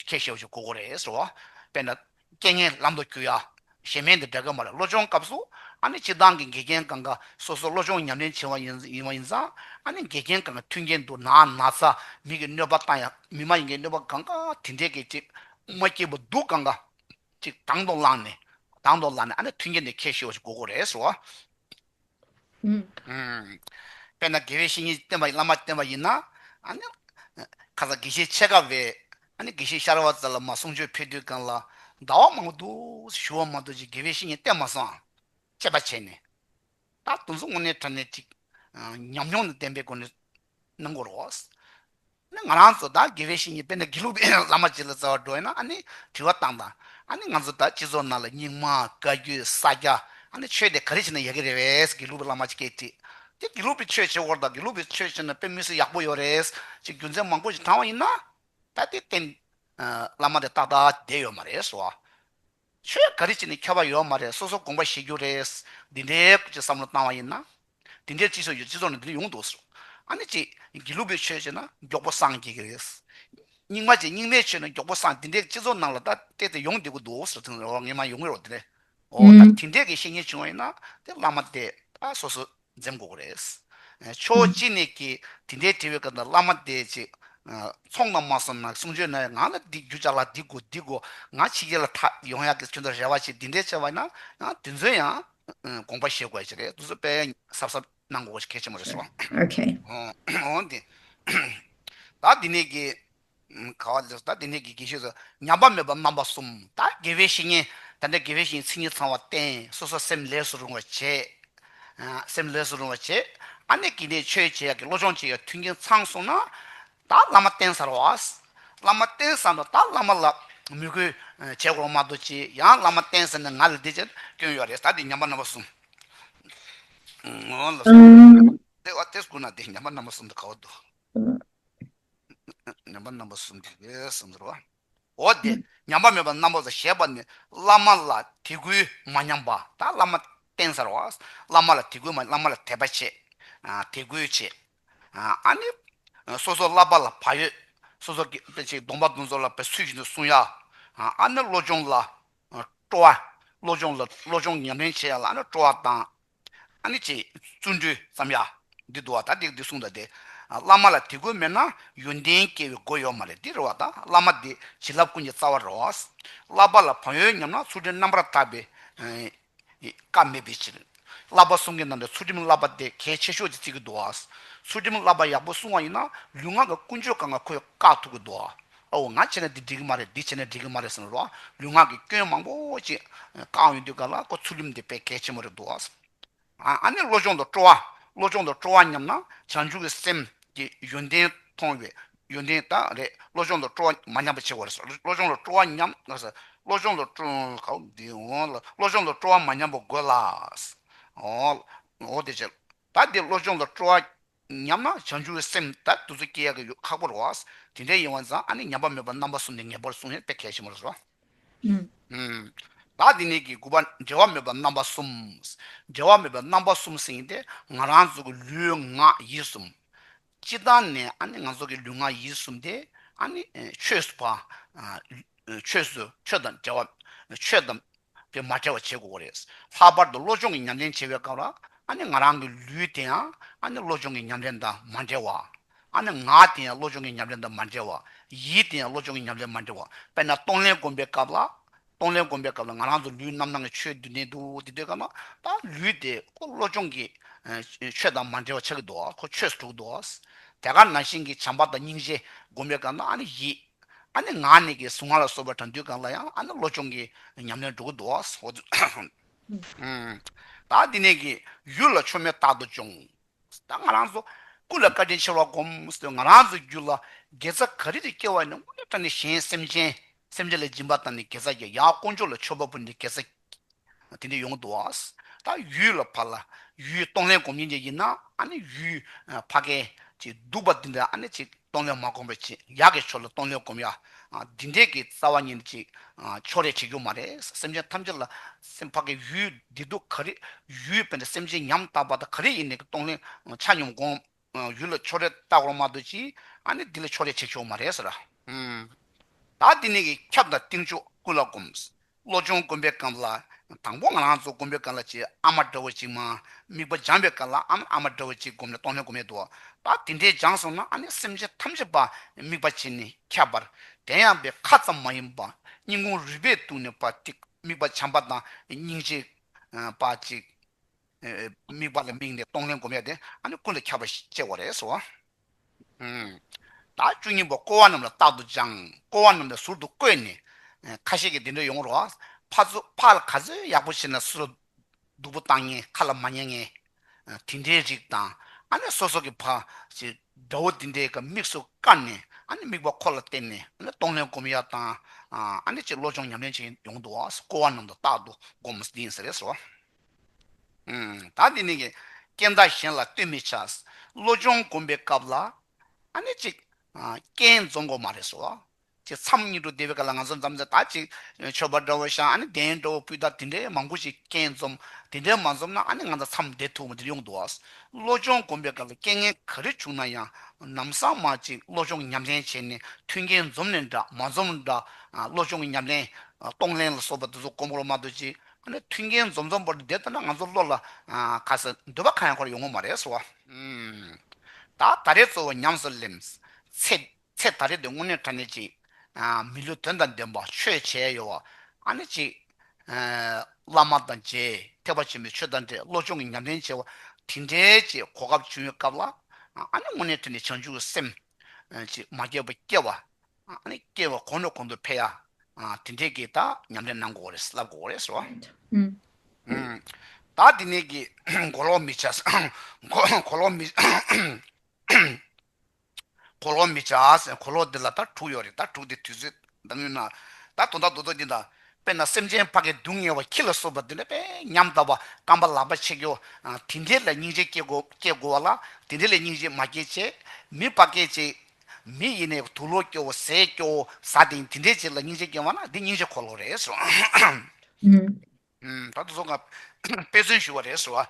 ཁྱེད་བཤད་བཞིན་གོ་གོ་རེད་ཟེར་བ། དཔེར་ན། རྐྱེན་ངན་ལམ་དུ་སྐྱུར་ཡ། ཞེས་མེད་འདི་སྒྲ་སྐད་མ་རེད་བློ་སྦྱོང་སྐབས་སུ་ཨ་ནི་སྤྱི་བཏང་གི་འགལ་རྐྱེན་གང་གི་སོ་སོར་བློ་སྦྱོང་ཉམས་ལེན་བྱེད་པ་ཡིན་ཡིན་བ་ཡིན་ཙང་ཨ་ནི་འགལ་རྐྱེན་གང་གི་མཐུན་རྐྱེན་དུ་ན་ན་ཚ་མིག་གི་གནོད་པ་བཏང་ཡ་མི་མ་ཡིན་གྱི་གནོད་པ་གང་གི་དེ་འདྲའི་གི་ཅིག་མ་སྐྱེས་པ་སྡུག་གང་གི་ཅིག་དང་དུ་བླངས་ནས་དང་དུ་བླངས་ནས་ཨ་ནི་མཐུན་རྐྱེན་འདི་ཁྱེད་བཤད་བཞིན་གོ་གོ་རེད་ཟེར་བ། དཔེར་ན་དགེ་བའི་བཤེས་གཉེན་སྟོན་པ་ཡི་བླ་མ་སྟོན་པ་ཡིན་ན། ཁ་ཚ་དགེ་བཤེས་ཆེ་དགའ་བས་དགེ་བཤེས་ཤར་བ་ཙལ་ལ་མ་གསུང་ཆོས་ཕེབས་དུས་སྒང་ལ་ཟླ་བ་མང་པོ་འདུག་ཞུ་བ་མ་འདུག་ཅེས་དགེ་བའི་བཤེས་གཉེན་སྟོན་མ་སོང་ཨང་དཔྱད་པ་བྱས་ནས། ད་དུང་སོང་ངོ་ནའི་གྲ་ནས་ཅིག། ཉམས་མྱོང་དང་ལྡན་པའི་སྒོ་ནས་གནང་གོ་རོགས། ནི་ང་རང་ཚོ་དང་དགེ་བའི་བཤེས་གཉེན་དཔལ་ནཱ་གི་ལུགས་པའི་བླ་མ་གཅིག་ལ་རྩ་བ་འགྲོ་ཡིན་ན་ཨ་ནི་དྲི་བ་བཏང་དང་ཨ་ནི་ང་ཚོ་དང་སྤྱི་ཚོགས་ནང་ལ་སྙིང་མ་བཀའ་རྒྱུད་ས་སྐྱ་ཨ་ནི་ཆོས་དེ་ག་རེ་བྱས་ན་ཡག་གི་རེད་བས་དགེ་ལུགས་པའི་བླ་མ་གཅིག་སྐད་དྲིས་ཏེ་དགེ་ལུགས་པའི་ཆོས་བྱེད་སྐོར་དང་དགེ་ལུགས་པའི་ཆོས་བྱས་ན་དཔེ་མི་སྲིད་ཡག་པོ་ཡོད་རེད་ཅེས་རྒྱུ་མཚན་མང་པོ་ཞིག་དྲངས་བ་ཡིན་ན་ད་ལྟའི་བརྟེན་བླ་མ་དེ་ཏག་ཏག་བསྡད་ཡོད་མ་རེད་བཟོ་བ་ཆོས་ག་རེ་བྱས་ནས་འཁྱོལ་བ་ཡོད་མ་རེད་སོ་སོ་དགོངས་པ་བཞེས་རྒྱུ་རེད། འདི་འདྲའི་སྐོར་གྱི་བསམ་བློ་བཏང་བ་ཡིན་ན། དེ་འདྲའི་སྤྱི་ཚོགས་ཡོད་སྤྱི་ཚོགས་ནང་འདི་འདྲ་ཡོང་འདུག་ཟེར། ཨ་ནི་ཅིག་དགེ་ལུགས་པའི་ཆོས་བྱས་ན་མགྱོགས་པོ་སངས་རྒྱས་ཀྱི་རེད། རྙིང་མ་ཅིག་རྙིང་མའི་ཆོས་ནང་མགྱོགས་པོ་སངས་དེ་འདྲའི་སྤྱི་ཚོགས་ནང་ལ་ད་ལྟའི་དེ་ཡོང་བསྡད་གི་འདུག་ཟེར་ཐེངས་རེ་ངས་མ་ཡོང་གི་རོགས་དེ་འདྲའི། འོ་ད་དེ་འདྲའི་གི་བཤེས་གཉེན་བྱུང་བ་ཡིན་ན་དེ་བླ་མ་དེ་ད་སོ་སོ། འཛེམ་དགོས་ཀྱི་རེད། ཁྱོད་ཅི་ནས་ཀྱིས་དེ་འདྲའི་དྲི་བའི་སྐབས་འདིར་བླ་མ་དེ་ཅིག་ཚོགས་རྣམས་མ་སོང་ན་གསུང་ཆོས་ནང་བའི་ངག་ལ་འདི་རྒྱུ་ཅག་ལ་འདི་དགོས་འདི་དགོས་ངག་ཕྱི་རྒྱལ་ལ་ཐ་ཡོང་ཡག་གི་ཁྱོད་ཚོ་རེ་བ་ཆེ་འདི་འདྲའི་ཆེ་བ་ན་དེ་ཚོའི་ཡང་དགོངས་པ་བཞེས་དགོས་ཡག་ཅིག་རེད་དུ་སུ་པས་གསབ་གསབ་གནང་དགོས་ཀྱི་གལ་ཆེན་པོ་རེད་སོ། འོན་ཏེ། ད་འདི་ནས་ཀྱིས། ག་བ་ལེགས་སོ་ད་དེ་ནས་ཀྱི་དགེ་བཤེས་སུ་ཉམས་པ་མེད་པར་རྣམ་པ་གསུམ་ད་དགེ་བའི་བཤེས་གཉེན་ད་ལྟའི་དགེ་བའི་བཤེས་གཉེན་ཚིག་གཉིས་ཚང་བ་བསྟན་སོ་སོ་སེམས་ལས་སུ་རུང་བར་བྱེད། སེམས་ལས་སུ་རུང་བར་བྱེད་ཨ་ནེ་ཀི་ནས་ཆོས་བྱེད་ཡག་གི་བློ་སྦྱོང་བྱེད་ཡག་མཐུན་རྐྱེན་ཚང་བསྲུངས་ན། ད་བླ་མ་བསྟེན་ཚར་བ། བླ་མ་བསྟེན་བསམ་ན་ད་བླ་མ་ལ་མོས་གུས་བྱེད་དགོངས་མ་དོ་ཅི་ཡང་བླ་མ་བསྟེན་ཟེར་ནས་ང་ལ་འདི་བྱེད་སྐྱོན་ཡོད་རེད་ད་དེ་ཉམས་པ་རྣམ་པ་གསུམ། ལེགས་སོ་ད་དེ་བསྐུར་ན་དེ་ཉམས་པ་རྣམ་པ་གསུམ་དུ་ག་བ་འདུག། ཉམས་པ་རྣམ་པ་གསུམ་གྱིས་ཞེས་སོགས་འདུལ་བ། འོ་དེས་ཉམས་པ་མེད་པ་རྣམ་པ་ཟད་ཞེས་པ་ནི་བླ་མ་ལ་དད་གུས་མ་ཉམས་པ་དང་བླ་མ་རྟེན་གསར་བ། བླ་མ་ལ་དད་གུས་མ་བླ་མ་ལ་དད་པ་བྱེད། དད་གུས་བྱེད། ཨ་ནི། སོ་སོར་བསླབ་པ་ལ་བག་ཡོད། སོ་སོར་སྐྱེད་བྱེད་གདོང་པ་གདོན་ཟོར་ལ་བའི་ཚུལ་བཞིན་དུ་བསྲུང་ཡ། ཨ་ནི་བློ་སྦྱོང་ལ་སྤྲོ་བ། བློ་སྦྱོང་ལ་བློ་སྦྱོང་ཉམས་ལེན་བྱེད་ཡ་ལ་ཨ་ནི་སྤྲོ་བ་དང་ཨ་ནི་ཅེས་བཙུན་གྲོལ་བསམ་ཡ། འདི་འདུག་བ་ད་དེ་འདི་གསུངས་ད་དེ། བླ་མ་ལ་དེ་དགོས་མེད་ན་ཡོན་ཏན་སྐྱེ་བའི་སྒོ་ཡོད་མ་རེད་དེ་རེད་བ་ད་བླ་མ་འདི་བྱིན་རླབས་ཀུན་གྱི་རྩ་བ་རེད་བ། བསླབ་པ་ལ་བག་ཡོད་སྙམ་ན་ཚུལ་ཁྲིམས་རྣམ་པར་དག་པའི་སྐབས་མེད་པའི་ཕྱིར། བསླབ་པ་གསུང་གི་ནང་དུ་ཚུལ་ཁྲིམས་བསླབ་པ་དེ་གལ་ཆེ་ཤོས་ཀྱི་ཚིག་གི་འདུག་བ། ཚུལ་ཁྲིམས་བསླབ་པ་ཡག་པོ་གསུང་བ་ཡིན་ན་ལུས་ངག་གི་ཀུན་སྤྱོད་གང་ག་ཁོས་བཀག་ཐུབ་ཀྱི་འདུག་བ། དཔའ་བོ་ང་བྱས་ན་འདི་འགྲིག་གི་མ་རེད་འདི་བྱས་ན་འགྲིག་གི་མ་རེད་ཟེར་ནས་ལུགས་ལུས་ངག་གི་སྐྱོན་མང་པོ་ཅི་གང་ཡོད་འདུག་ག་ལ་ཁོ་ཚུར་ལུམ་འདི་དཔེ་གལ་ཆེན་མོ་རེད་འདུག་ཨ། ཨ་ནི་བློ་སྦྱོང་དང་སྤྲོ་བ་བློ་སྦྱོང་དང་སྤྲོ་བ་ཉམས་ན་བྱང་ཆུབ་ཀྱི་སེམས་ཀྱི་ཡོན་ཏན་མཐོང་བའི་ཡོན་ཏན་དག་རེད་བློ་སྦྱོང་དང་སྤྲོ་བ་མ་ཉམས་པ་ཆེ་བ་རེད་བློ་སྦྱོང་དང་སྤྲོ་བ་ཉམས་ན་བློ་སྦྱོང་དང་སྤྲོ་བློ་སྦྱོང་དང་སྤྲོ་བ་མ་ཉམས་པ་དགོས་ལ། འོ་དེ་ཅི་ད་འདི་བློ་སྦྱོང་དང་སྤྲོ་བ་ཉམས་ན་བྱང་ཆུབ་བའི་སེམས་དད་བདུད་རྩི་སྐྱེ་ཡག་གི་ཡོད་ཁག་པོ་རོ། དེ་འདྲའི་ཡིན་བ་ཛང་ཨ་ནི་ཉམས་པ་མེད་པར་རྣམ་པ་གསུམ་ནས་ངེས་པར་གསུངས་ཡོད་དཔེ་གལ་ཆེན་པོ་རེད་རོ། བདག་འདི་ནས་ཀྱི་དགུ་པ་འབྲལ་བ་མེད་པར་རྣམ་པ་གསུམ། འབྲལ་བ་མེད་པའི་རྣམ་པ་གསུམ་ཟིན་ཡིན་ཏེ་ང་རང་ཚོ་གི་ལུས་ངག་ཡིད་གསུམ། སྤྱི་དང་ནས་ཨ་ནི་ང་ཚོ་གི་ལུས་ངག་ཡིད་གསུམ་དེ་ཨ་ནི་ཆོས་སུ་བ། ཆོས་སུ་ཆོས་དང་བྲལ་བ། ཆོས་དང། དེ་མ་བྲལ་བ་བྱེད་དགོས་པ་རེད། ལྷག་པར་དུ་བློ་སྦྱོང་གི་ཉམས་ལེན་བྱེད་པའི་སྐབས་ལ། ཨ་ནི་ང་རང་གི་ལུས་དེ་ཡང་ཨ་ནི་བློ་སྦྱོང་གི་ཉམས་ལེན་དང་མ་འབྲེལ་བ། ཨ་ནི་ངག་དེ་ཡང་བློ་སྦྱོང་གི་ཉམས་ལེན་དང་མ་འབྲེལ་བ། ཡིད་དེ་ཡང་བློ་སྦྱོང་གི་ཉམས་ལེན་མ་འབྲེལ་བ། དཔེར་ན་གཏོང་ལེན་སྒོམ་པའི་སྐབས་ལ། གཏོང་ལེན་སྒོམ་པའི་སྐབས་ལ་ང་རང་ཚོ་ལུས་རྣམ་སྣང་གི་ཆོས་བདུན་ལྡན་འདུག་དེ་ལྟོས་སྐབས་ན། ད་ལུས་དེ་ཁོ་བློ་སྦྱོང་གི། ཆོས་དང་མ་འབྲེལ་བ་ཆགས་ཀྱི་འདུག་ཁོ་ཆོས་སུ་གྲུག་འདུག། དེ་གར་ན་ཞིང་གི་བྱམས་པ་དང་སྙིང་རྗེ་སྒོམ་པའི་སྐབས་ན་ཨ་ནི་ཡིད། ཨ་ནི་ངག་ནས་ཀྱི་གཟུངས་སྔགས་ལ་སོགས་པ་གྲངས་དུས་གང་ལ་ཡང་ཨ་ནི་བློ་སྦྱོང་གི་ཉམས་ལེན་འགྲོ་ཀུན་འདུ་བ་སོགས་བརྗོད། བདག་འདི་ནས་ཀྱི་ཡུལ་ལ་ཆོས་མེད་རྟག་ཏུ་སྦྱོང། བདག་ང་རང་ཚོ་ཀུན་ལ་བཀའ་དྲིན་ཆེ་བར་བསྒོམ། ང་རང་ཚོའི་རྒྱུད་ལ་དགེ་རྩ་ག་རེ་རེ་སྐྱེ་བ་ནི་དངོས་གནས་དྲང་ནས་གཞན་སེམས་ཅན་སེམས་ཅན་ལ་སྦྱིན་པ་དང་ནི་དགེ་རྩ་རྒྱ་ཡང་དཀོན་མཆོག་ལ་མཆོད་པ་པོ་ནི་དགེ་རྩ་དེ་འདི་ཡོང་འདུག་ད་ཡུལ་ལ་ཕར་ལ་ཡུལ་གཏོང་ལེན་གོམས་ཉེན་ཅན་ཡིན་ན་ཨ་ནི་ཡུལ་ཕ་རྒན་གྱི་སྡུག་པ་འདི་འདྲ་ཨ་ནི་ཅིག་གཏོང་ལེན་མ་གོམས་པའི་ཅིག་ཡག་གི་ཕྱོགས་ལ་གཏོང་ལེན་གོམས་ཡ་འདི་འདྲས་ཀྱི་རྩ་བ་ཉིད་ནི་ཅིག་ཕྱོགས་རེ་བྱེད་རྒྱུ་མ་རེད་སེམས་ཅན་ཐམས་ཅད་ལ་སེམས་ཕ་རྒན་ཡུལ་འདི་སྡུག་ག་རེ་ཡུལ་ཕ་རྒན་སེམས་ཅན་ཉམ་ཐག་པ་དང་ག་རེ་ཡིན་ནས་ཀྱི་གཏོང་ལེན་ཆ་སྙོམས་གོམས། ཡུལ་ལ་ཕྱོགས་རེ་ལྟ་གོང་མ་དུ་ཅིས་ཨ་ནི་འདི་ལ་ཕྱོགས་རེ་བྱེད་ཆོག་མ་རེད་ཟེར། ད་འདི་ནས་ཀྱི་ཁྱབ་དང་གཏིང་ཕྱོགས་ཀུན་ལ་སྒོམས། བློ་སྦྱོང་དགོན་པའི་སྐབས་ལ་དང་པོ་ང་རང་ཚོ་དགོན་པའི་སྐབས་ལ་ཅིག་ཨ་མ་དགྲ་བོ་ཅིག་མ་དམིགས་པ་སྦྱངས་པའི་སྐབས་ལ་ཨ་མ་དགྲ་བོ་ཅིག་སྒོམས་ནས་སྟོང་ལྷན་སྒོམ་ཡས་འདུག་ད་འདི་འདྲས་སྦྱངས་སོང་ན་ཨ་ནི་སེམས་ཅན་ཐམས་ཅད་པ་དམིགས་པ་བྱས་ནས་ཁྱབ་པར་དན་ཡང་པའི་ཁ་ཙམ་མ་ཡིན་པ་སྙིང་ཁུང་རུས་པས་གཏུགས་ནས་པ་དམིགས་པ་བྱམས་པ་དང་སྙིང་རྗེ་པ་ཅིག། དམིགས་པ་ལ་དམིགས་ནས་གཏོང་ལེན་བསྒོམ་ཡས་ཏེ་ཀུན་ལ་ཁྱབ་པར་སྤྱད་བ་རེད། བདག་བཅུ་གཉིས་པ་བསྐོར་བ་རྣམས་ལ་རྟག་ཏུ་སྦྱང། བསྐོར་བ་རྣམས་ལ་ཟུར་དུ་བཀོད་ནས། ཁ་ཤས་ཀྱིས་འདི་འདྲ་ཡོང་རོགས། ཕ་ལ་ག་ཚོད་ཡག་པོ་བྱིན་ལ་སུ་ལ་སྡུག་པོ་བཏང་ངན་ཁ་ལ་མ་ཉན་ངན། དེ་འདྲའི་རིགས་དང། སོ་སོ་གྱི་ཕ། དགྲ་བོ་དེ་འདྲའི་མིག་སོ་བཀར་ནས་དམིགས་པ་ཁོ་ལ་བསྟན་ནས་གཏོང་ལེན་བསྒོམ་ཡས་དང། ཅེས་བློ་སྦྱོང་ཉམས་ལེན་བྱེད་ཡོང་དུས་བསྐོར་བ་རྣམས་ལ་རྟག་ཏུ་བསྒོམ། ད་འདི་ནི། སྐྱེ་མཐའ་གཞན་ལ་ལྟོས་མི་བྱ། བློ་སྦྱོང་བསྒོམ་པའི་སྐབས་ལ། ཨ་ནི་ཅིག། རྐྱེན་རྫོང་གོ་མ་རེད་སོ། ཅེས་མཚམས་གཉིས་དུ་བསྡེབས་པའི་སྐབས་ལ་ང་ཚོ་འཛམ་བུ་ད་ཅིག། མཆོད་པ་འདྲ་བོ་བཞག་ཨ་ནི་གདན་འདྲ་བོ་བསྐུལ་ད་དེ་འདྲའི་མང་པོ་ཞིག་རྐྱེན་འཛོམ། དེ་འདྲའི་མ་འཛོམ་ན་ཨ་ནི་ང་ཚོ་མཚམས་བསྡད་ཐུབ་བོ་འདིར་ཡོང་འདུག་ཨ། བློ་སྦྱོང་བསྒོམ་པའི་སྐབས་ལ་རྐྱེན་ངན་ག་རེ་བྱུང་ན་ཡང། ནམ་སང་མ་ཅིག་བློ་སྦྱོང་གི་ཉམས་ལེན་བྱས་ནས་མཐུན་རྐྱེན་འཛོམ་ནས་འདྲ་མ་འཛོམ་འདྲ། བློ་སྦྱོང་གི་ཉམས་ལེན། གཏོང་ལེན་ལ་སོགས་པ་འདི་ཚོ་གོམས་ཁོར་མ་གཏོད་ཅིག། ཨ་ནི་མཐུན་རྐྱེན་འཛོམས་འཛོམས་པོར་བསྡད་འདོད་ན་ང་ཚོ་བློ་ལ་ག་ཟེར་འདོད་པ་གང་ཡང་འཁོར་ཡོང་ངོ་མ་རེད་ཟེར་བ། ད་ད་རེས་གཙོ་བོ་ཉམས་སུ་བླེམས། ཚེ་ཚེ་ད་རེས་འདི་དངོས་གནས་དྲ་གནས་ཅིག། མི་ལུས་དོན་དང་ལྡན་པ་ཆོས་བྱས་ཡོད་བ། ཨ་ནི་ཅིག། བླ་མ་དང་མཇལ་ཐེག་པ་ཆེན་པོའི་ཆོས་བདག་འདྲའི་བློ་སྦྱོང་གི་ཉམས་ལེན་བྱས་བ་དེ་འདྲའི་ཅིག་གོ་སྐབས་བྱུང་ཡོད་སྐབས་ལ། ཨ་ནི་དངོས་གནས་དྲ་གནས་བྱང་ཆུབ་སེམས། ཅིག་མ་སྐྱེས་པ་སྐྱེ་བ། སྐྱེ་བ་གོང་དུ་གོང་དུ་འཕེལ་ཡ། དེ་འདྲས་ཀྱིས་དག་ཉམས་ལེན་གནང་དགོས་པ་རེད་བསླབ་དགོས་པ་རེད་ཟེར་བ། དག་དེ་ནས་ཀྱི་མགོ་ལོག་མི་བྱ། གོ་ལོག་མི། གོ་ལོག་མི་བྱ། གོ་ལོག་དེ་ལ་དག་དྲུག་ཡོད་རེད་དག་དྲུག་དེ་དུས་ཚོད་མདའ་མོའི་ནགས། ད་དུང་དག་འདུག་ཚོགས་ཀྱི་མདའ། དཔེར་ན་སེམས་ཅན་ཕ་གི་སྡུག་བསྔལ་བ་ཁྱི་ལ་སོགས་པ་འདི་འདྲ་བས་ཉམས་བསྟབས་པ་སྐམ་པ་ལག་པ་ཕྱེ་རྒྱོ། དེ་འདྲའི་ལ་སྙིང་རྗེ་སྐྱེ་དགོ་བ་ལ་དེ་འདྲའི་ལས་སྙིང་རྗེ་མ་སྐྱེ་ཅེས། མི་ལྤགས་སྐད་ཅིག། མི་ཡིས་ནས་དུག་ལོ་སྐྱོ་བོ་ཟས་སྐྱོ་བོ་ཟ་དེ་ཡིན་དེ་འདྲའི་ཅིག་ལ་སྙིང་རྗེ་སྐྱེ་བ་ན་འདི་སྙིང་རྗེ་འཁོར་ལོ་རེད། ད་དུ་བཟོ་སྐབས་དཔེ་མཚོན་ཞུ་བ་རེད་ཟེར་བ།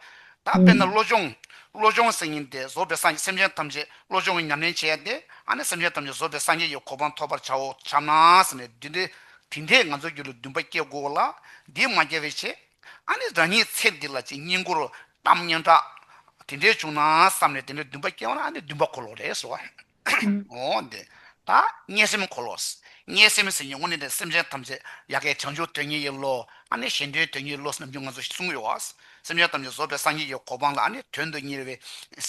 ད་དཔེར་ན་བློ་སྦྱོང། བློ་སྦྱོང་སེམས་ཡིན་ཏེ་བཟོ་པའི་སངས་རྒྱས་སེམས་ཅན་ཐམས་ཅད་བློ་སྦྱོང་གིས་ཉམས་ལེན་བྱས་ཏེ་ཨ་ནི་སེམས་ཅན་ཐམས་ཅད་བཟོ་པའི་སངས་རྒྱས་ཀྱི་གོ་འཕང་ཐོབ་པར་བྱའོ་བྱ་ན་ཟེར་ནས་བསྡུས་ཏེ་དེ་འདྲས་ང་ཚོའི་རྒྱུད་ལ་འདུན་པ་སྐྱེ་དགོས་བ་ལ་འདིས་མ་སྐྱེ་བའི་ཕྱིར། ཨ་ནི་རང་ཉིད་ཚེ་འདི་ལ་ཅི་སྙིང་པོར་གཏམ་སྙན་གྲགས། དེ་འདྲས་བྱུང་ན་བསམ་ནས་དེ་འདྲས་འདུན་པ་སྐྱེ་བ་ན་ཨ་ནི་འདུན་པ་འཁོར་ལོ་རེད་ཟེར་བ། འོ། འདི་ལྟར་དམྱལ་སེམས་འཁོར་ལོ། དམྱལ་སེམས་ཟེར་ཉེ་ངོ་ནས་འདིར་སེམས་ཅན་ཐམས་ཅད་ཡ་གའི་བྱང་ཆུབ་དོན་གཉེར་ཡི་བློ། ཨ་ནི་གཞན་དོན་དོན་གཉེར་བློ་ནམ་རྒྱུན་ང་ཚོ་ཞེས་གསུངས་ཡོད། སེམས་ཅན་ཐམས་ཅད་གཟོད་པའི་སངས་རྒྱས་ཀྱི་གོ་འཕང་ལ་ཨ་ནི་དོན་དུ་གཉེར་བའི་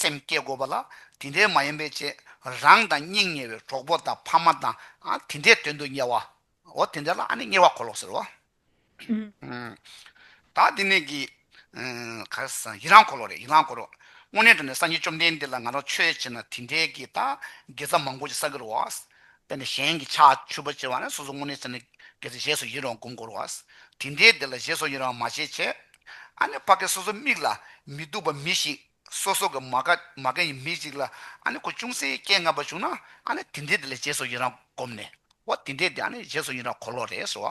སེམས་བསྐྱེད་དགོས་པ་ལ། དེ་འདྲའི་མ་ཡིན་པའི་ཆེད་རང་དང་སྙིང་ཉེ་བའི་གྲོགས་པོ་དང་ཕ་མ་དང་དེ་འདྲའི་དོན་དུ་གཉེར་བའོ། དེ་འདྲ་ལ་ཨ་ནི་གཉེར་བ་འཁོར་ལོ་ཟེར་རོ། བདག་བདེ་གནས་ཀྱི། ཡི་རང་འཁོར་ལོ་རེད་ཡི་རང་འཁོར་ལོ། དངོས་གནས་དྲན་ནས་སངས་རྒྱས་བཅོམ་ལྡན་འདས་ལ་ང་རང་ཆོས་བྱེད་ན་དེ་འདྲའི་གི་ད་དགེ་རྩ་མང་པོ་ཅིག་ས་གི་རུ་བ། དཔེར་ན་གཞན་གྱི་ཕྱག་མཆོད་པོ་བྱེད་བ་ན་སོ་སོ་དངོས་གནས་བྱེད་ན་དགེ་རྩ་བཞེས་སོ་ཡིན་རུང་དགོངས་སྐོར་བ། དེ་འདྲའི་དེ་ལ་བཞེས་སོ་ཡིན་རུང་མ་བྱེད་བྱེད། ཨ་ནི་བྷ་གའི་སོ་སོ་དམིགས་ལ་མི་སྡུག་པ་མི་ཞིག། སོ་སོ་གི་མ་ག་མ་ག་ཡི་མི་ཅིག་ལ་ཨ་ནི་ཁོ་ཅུང་ཟད་སྐད་ངན་པ་བྱུང་ན་ཨ་ནི་དེ་འདྲས་དེ་ལ་རྗེས་སུ་ཡི་རང་བསྒོམས་ནས་ཨོ་དེ་འདྲས་དེ་ཨ་ནི་རྗེས་སུ་ཡི་རང་གོ་ལོག་རེད་ཟེར་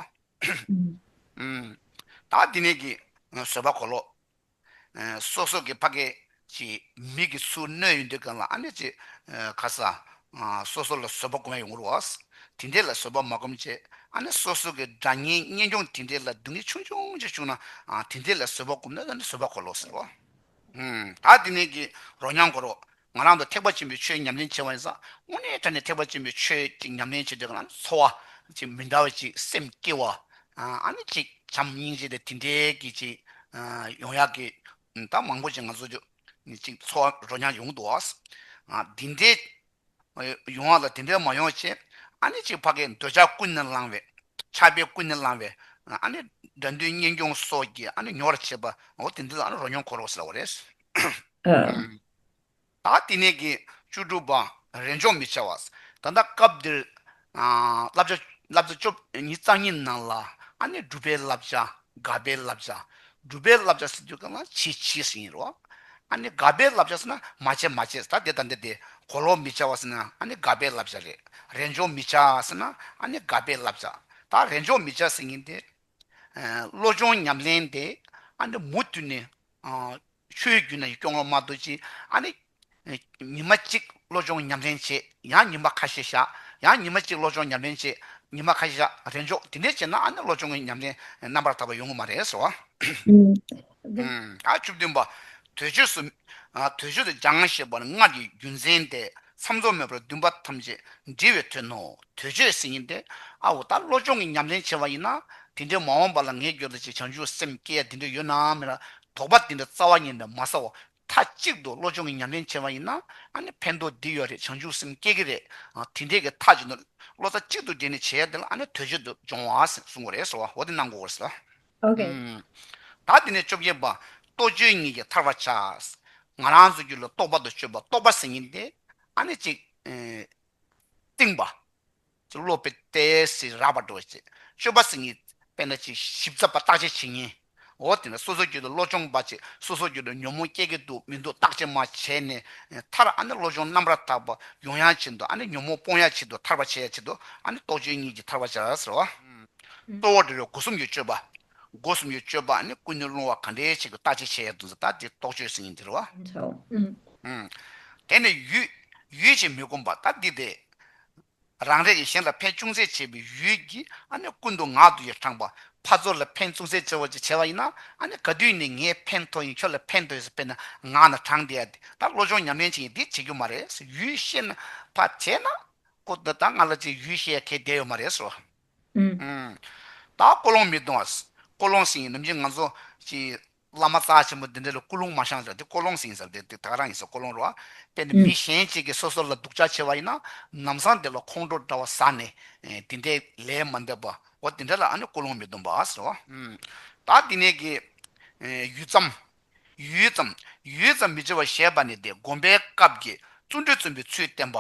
བ། ད་འདི་ནས་ཀྱི་བཟོད་པ་གོ་ལོག། སོ་སོ་གི་ཕ་གའི་ཀྱི་མི་གི་ཚུར་གནོད་ཡོད་འདོད་མཁན་ལ་ཨ་ནི་ཅི་ག་ས་སོ་སོ་ལ་བཟོད་པ་བསྒོམ་ཡོང་ངོ་རུ་ཨོ་དེ་འདྲས་ལ་བཟོད་པ་མ་བསྒོམ་ཆེད་ཨ་ནི་སོ་སོ་གི་དགྲ་གཉེན་གཉེན་སྐྱོང་དེ་འདྲས་ལ་སྡུག་བསྔལ་ཆུང་ཆུང་ཅིག་བྱུང་ན་དེ་འདྲས་ལ་བཟོད་པ་བསྒོམ་ན་ཨ་ནི་བཟོད་པ་གོ་ལོག་ཟེར་བ། ད་དེ་ནས་ཀྱི་རོ་མྱང་གོ་རོ། ང་རང་དུ་ཐེག་པ་ཆེན་པོའི་ཆོས་ཉམས་ལེན་བྱེད་པ་ཡིན་ས་དངོས་གནས་ད་ནས་ཐེག་པ་ཆེན་པོའི་ཆོས་ཅིག་ཉམས་ལེན་བྱེད་དུས་ང་རང་ཚོར་བ་ཅིག་མི་འདྲ་བ་ཅིག་སེམས་སྐྱེ་བ་ཨ་ནི་ཅིག་བྱམས་སྙིང་རྗེ་དེ་དེ་འདྲའི་གི་ཅིག་ཡོང་ཡག་གི་ད་མང་པོ་ཅིག་ང་ཚོ་ཅིག་ཚོར་བ་རོ་མྱང་ཡོང་འདུག་ཨ། འདི་འདྲའི་ཡོང་བ་ལ་དེ་འདྲའི་མ་ཡོང་ཞེས་ཨ་ནེ་གཅིག་ཕ་གི་འདོད་ཆགས་ཀུན་ནས་བསླངས་བས། ཆགས་པས་ཀུན་ནས་བསླངས་བས་ཨ་ནེ། དགྲ་འདུལ་གཉེན་སྐྱོང་སོགས་ཀྱིས་ཨ་ནེ་ཉོ་བར་བྱེད་པ། འོ་དེ་འདི་ལ་ཨ་ནེ་རོ་ཉོ་འཁོར་རོ་ཟེར་བ་རེད། ད་བསྟི་གནས་ཀྱི་བཅུ་དྲུག་པ་རེས་འཇོག་མི་བྱ་བ། ད་ལྟ་སྐབས་འདིར། བསླབ་བྱ་བསླབ་བྱ་བཅུ་གཉིས་རྩ་གཉིས་ནང་ལ་ཨ་ནི་སྒྲུབ་པའི་བསླབ་བྱ་དགའ་བའི་བསླབ་བྱ་སྒྲུབ་པའི་བསླབ་བྱ་ཟེར་དུས་གང་ལ་བྱེད་བྱེད་ཟེར་ཡིན་རོ། ཨ་ནི་དགའ་བའི་བསླབ་བྱ་ཟེར་ན་མ་བྱེད་མ་བྱེད་ཟེར་ད་དེ་དང་དེ་དེ་གོ་ལོག་མི་བྱ་བ་ཟེར་ན་ཨ་ནི་དགའ་བའི་བསླབ་བྱ་རེད། རེས་འཇོག་མི་བྱ་ཟེར་ན་ཨ་ནི་དགའ་བའི་བསླབ་བྱ་ད་རེས་འཇོག་མི་བྱ་ཟེར་ངེས་ཏེ། བློ་སྦྱོང་ཉམས་ལེན་དེ་ཨ་ནི་མུ་མཐུད་ནས་ཆོས་བརྒྱུད་ནང་གི་སྐྱོང་བློ་མ་རྡོ་རྗེ་ཨ་ནི། ཉི་མ་གཅིག་བློ་སྦྱོང་ཉམས་ལེན་བྱས་ཡང་ཉི་མ་ཁ་ཤས་བཞག་ཡང་ཉི་མ་གཅིག་བློ་སྦྱོང་ཉམས་ལེན་བྱས་ཉི་མ་ཁ་ཤས་བཞག་རེས་འཇོག་དེ་འདྲས་བྱས་ན་ཨ་ནི་བློ་སྦྱོང་གི་ཉམས་ལེན་རྣམ་པར་དག་པ་ཡོང་གི་མ་རེད་ཟེར་བ། བཅུ་བདུན་པ། དུས་མཆོད་སུ། དུས་མཆོད་དུ་སྦྱང་ཞེས་པ་ནི་སྔར་གྱི་རྒྱུ་མཚན་ཏེ། མཚམས་རྫོགས་མེད་པར་བདུན་པ་ཐམས་ཅད་འདྲི་བའི་དོན་ནོ། དོལ་ཆོས་ཟིན་ཡིན་ཏེ། ཨ་འོ་ད་བློ་སྦྱོང་གི་ཉམས་ལེན་བྱེད་པ་ཡིན་ན། དེ་འདྲའི་མ་འོངས་པ་ལ་ངས་འགྱོད་ལ་ཅིག་བྱང་ཆུབ་སེམས་བསྐྱེད་ཡ་དེ་འདྲ་ཡོད་ནའང་མེད་ལ། དོགས་པ་དེ་འདྲ་རྩ་བ་ཉིད་ནས་མ་ཟ་བར། མཐའ་གཅིག་ཏུ་བློ་སྦྱོང་གི་ཉམས་ལེན་བྱེད་པ་ཡིན་ན། ཨ་ནི་ཕན་ཐོགས་འདི་ཡོད་རེད་བྱང་ཆུབ་སེམས་བསྐྱེད་ཀྱི་རེད། དེ་འདྲའི་གི་མཐའ་གཅིག་ཏུ། བློ་རྩ་གཅིག་ཏུ་སྦྲེལ་ནས་བྱེད་ཡ་དེ་ལ་ཨ་ནི་དོལ་ཆོས་དོལ་སྦྱོང་བ་ཟེར་གསུང་གི་རེད་ཟེར་བ་འོ་དེ་གནང་དགོས་པ་རེད། ཨོ་ད་དེ་ནས་བཅོ་བརྒྱད་པ། རྟོག་དཔྱོད་གཉིས་ཀྱིས་ཐར་བར་བྱ། ང་རང་ཚོ་རྒྱུད་ལ་རྟོག་པ་དང་དཔྱོད་པ་རྟོགས་པ་ཟེར་ཉིན་དེ་ཨ་ནི་ཅིག། རྟིང་པ། ཅིག་བློ་དཔེ་ཏེ་སི་རགས་པར་འགྲོ་བ་ཅིག་དཔྱོད་པ་ཟེར་ཉིན་དཔེ་ན་ཅིག་ཞིབ་ཚགས་པར་བརྟག་དཔྱད་བྱེད་ཉིན། ཨོ་དེ་ནས་སོ་སོའི་རྒྱུད་ལ་བློ་སྦྱོང་པ་ཅིག་སོ་སོའི་རྒྱུད་ལ་ཉོན་མོངས་སྐྱེ་གི་འདུག་མི་འདུག་བརྟག་དཔྱད་མ་བྱས་ནས་ཐར་ཨ་ནི་བློ་སྦྱོང་རྣམ་རགས་དག་པ་ཡོང་ཡང་བྱེད་འདུག་ཨ་ནི་ཉོན་མོངས་སྤོང་ཡང་བྱེད་འདུག་ཐར་བར་བྱེད་ཡང་བྱེད་འདུག་ཨ་ནི་རྟོག་དཔྱོད་གཉིས་ཀྱིས་ཐར་བར་བྱ། གཙོ་བོར་འབྲེལ་བའི་སྒོ་གསུམ་ཡུལ་སྤྱོད་པ། སྒོ་གསུམ་ཡུལ་སྤྱོད་པ་ནི་ཀུན་ནས་སློང་བ་གང་འདྲའི་ཆེ་གི་ལྟ་ཅི་བྱས་ཡ་དུ་འཛི་ལྟ་དེ་རྟོག་དཔྱོད་སེང་གེ་འདིར་བ། དེ་ནི་ཡུལ། ཡུལ་ཅེས་མི་བསྒོམ་པ་ལྟ་འདི་སྟེ། རང་རེ་ཡི་གཞན་ལ་ཕན་ཅུང་ཟད་བྱེད་པའི་ཡུལ་གྱིས་ཨ་ནི་ཀུན་ཏུ་ངག་ཏུ་ཡི་དྲངས་པ། ཕར་ཚུར་ལ་ཕན་ཅུང་ཟད་བྱེད་བ་ཅེས་བྱ་བ་ཡིན་ན་ཨ་ནི་ག་དུས་ནས་ངས་ཕན་ཐོགས་ཡིན་ཁྱོད་ལ་ཕན་ཐོགས་ཡོད་ཟེར་དཔེར་ན་ངག་ན་དྲངས་དེ་ཡ་འདི་ལྟར་བློ་སྦྱོང་ཉམས་ལེན་བྱེད་ཡིན་འདི་བྱེད་རྒྱུ་མ་རེད་ཡུལ་ཤེས་ན་ཕར་བྱས་ན། ཀོ་འདི་ལྟར་ང་ལ་ཅིག་ཡུལ་ཤེས་ཡ་གལ་བདེ་ཡོད་མ་རེད། ད་ཀོ་ལོང་མི་གཏོང། ཀོ་ལོང་སིང་ནམ་རྒྱུན་ང་ཚོ། བླ་མ་རྩ་ཆེན་པོ་འདི་འདྲ་ལ་སྐུ་ལུང་མ་བཤངས་ཀྱང་དེ་ཀོ་ལོང་སིང་ཟེར་དེ་དེ་ག་རང་ཡིན་ཟེར་ཀོ་ལོང་རོ། དཔེར་ན་མི་གཞན་གཅིག་གིས་སོ་སོ་ལ་སྡུག་ཅག་བྱས་པ་ཡིན་ན་ནམ་བཟང་དེ་ལ་ཁོང་ཁྲོ་འདྲ་བ་ཟ་ནས་དེ་འདྲའི་ལས་མ་འདེབས་པ་འོ་དེ་འདྲ་ལ་ཨ་ནི་ཀོ་ལོང་མི་གཏོང་པ། ད་དེ་ནས་ཀྱི། ཡུད་ཙམ། ཡུད་ཙམ་ཡུད་ཙམ་མི་བྱེད་པར་ཞེས་པ་ནི་དེ་བསྒོམ་པའི་སྐབས་ཀྱི་བརྩོན་འགྲུས་བརྩོན་པའི་ཚུལ་བསྟན་པ།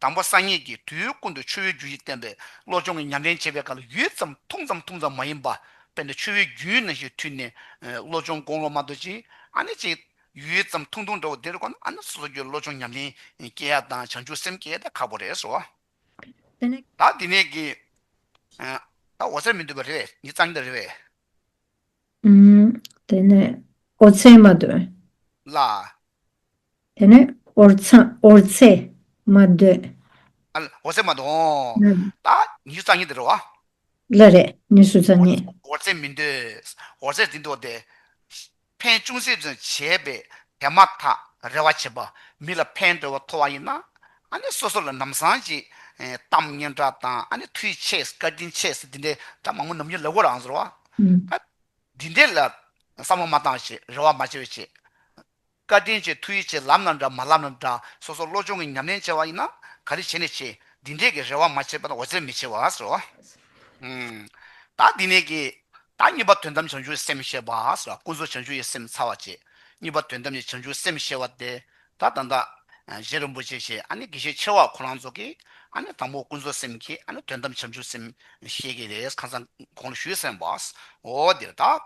དང་པོ་གསང་གནས་ཀྱི་དུས་ཀུན་ཏུ་ཆུ་བོའི་རྒྱུན་བཞིན་བསྟན་པས་བློ་སྦྱོང་གི་ཉམས་ལེན་བྱེད་པའི་སྐབས་ལ་ཡུད་ཙམ་ཐུང་ཙམ་ཐུང་ཙམ་མ་ཡིན་པ་དཔེར་ན་ཆུ་བོའི་རྒྱུན་ནང་བཞིན་འཐུལ་ནས་བློ་སྦྱོང་དགོངས་ལོག་མ་དོར་ཅིག་ཨ་ནི་ཅིག། ཡུད་ཙམ་ཐུང་ཐུང་འདྲ་བོ་འདིར་གོ་ན་ཨ་ནི་སོ་སོ་སྐྱོའི་བློ་སྦྱོང་ཉམས་ལེན་སྐྱེ་ཡ་དང་བྱང་ཆུབ་སེམས་སྐྱེ་ཡ་དེ་ཁག་པོ་རེད་སོ། ད་འདི་ནས་ཀྱི། ད་འོ་ཟེར་མི་འདོད་པ་རེད་འདི་གཙང་སྦྲ་རེད་བས། དེ་ནས་ཨོ་རྩེད་མ་འདོད། ལ། དེ་ནས་ཨོ་རྩེད་མ་འདོད། ཨོ་རྩེད་མ་འདོད། ལ། ཉི་ཤུ་རྩ་གཉིས་དེ་འགྲོ་བ། ལ་རེད་ཉི་ཤུ་རྩ་གཉིས། ཨོ་རྩེད་མི་འདོད། ཨོ་རྩེད་དེ་འདོད་དེ། ཕན་ཅུང་ཟད་བྱས་པས་དེ་མ་ཐག་རེ་བ་བྱེད་པ་མི་ལ་ཕན་འདོད་པ་མཐོ་བ་ཡིན་ན་སོ་སོ་ལ་ནམ་སང་གི་གཏམ་སྙན་གྲགས་དང་མཐུའི་ཆས་སྐ་རྒྱུན་ཆས་འདི་འདྲའི་སྒྲ་མང་པོ་ནམ་རྒྱུན་ལབ་དགོས་རང་ཟེར་བ། འདི་འདྲའི་ལ་བསམ་བློ་མ་བཏང་ཞེས་རེ་བ་མ་བྱེད་བྱས། སྐ་རྒྱུན་ཆས་མཐུའི་ཆས་ལབ་ན་འདྲ་མ་ལབ་ན་འདྲ་སོ་སོ་བློ་སྦྱོང་གི་ཉམས་ལེན་བྱས་བ་ཡིན་ན་ག་རེ་བྱས་ནས་བྱས་འདི་འདྲས་ཀྱི་རེ་བ་མ་བྱས་པ་ན་འོ་ཟེར་མི་བྱེད་བ་ཟེར་བ། བདག་འདི་ནས་ཀྱི། བདག་གཉིས་པ་དོན་དམ་བྱང་ཆུབ་སེམས་ཤེས་པ། ཀུན་རྫོབ་བྱང་ཆུབ་ཡི་སེམས་ཚ་བ་བྱེད། གཉིས་པ་དོན་དམ་གྱི་བྱང་ཆུབ་སེམས་ཤེས་བ་སྟེ། ད་ད་ད། གཞན་རིན་པོ་ཆེ་ཞེས་ཨ་ནི་དགེ་བཤེས་ཆེ་བ་ཁོ་རང་ཚོ་གིས་ཨ་ནི་དང་པོ་ཀུན་བཟོད་སེམས་ཀྱིས་ཨ་ནི་དོན་དམ་བྱམས་ཆུབ་སེམས་ཤེས་ཀྱི་རེད་ཁང་བཟང་གོང་ལ་བཞུད་སེམས་པ་འོ་འདིར་དག།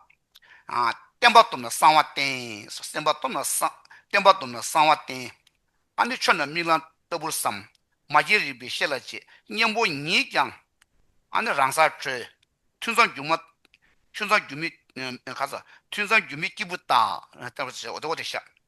བསྟན་པ་སྟོབས་ན་གསང་བ་བསྟན། སེམས་པ་སྟོབས་ན་གསང། བསྟན་པ་སྟོབས་ན་གསང་བ་བསྟན། ཨ་ནི་ཆོས་རྣམས་མིག་ལམ་ལྟ་བུར་བསམ། མ་སྐྱེས་རིག་པའི་ཤེས་ལ་བྱེད། གཉེན་པོ་ཉིད་ཀྱང་ཨ་ནི་རང་སར་གྲོལ། ཐུན་མཚམས་སྒྱུ་མ། ཐུན་མཚམས་སྒྱུ་མའི། ཁ་ཚ། ཐུན་མཚམས་སྒྱུ་མའི་སྐྱེས་བུ་དག། འོ་དེ་ཤ།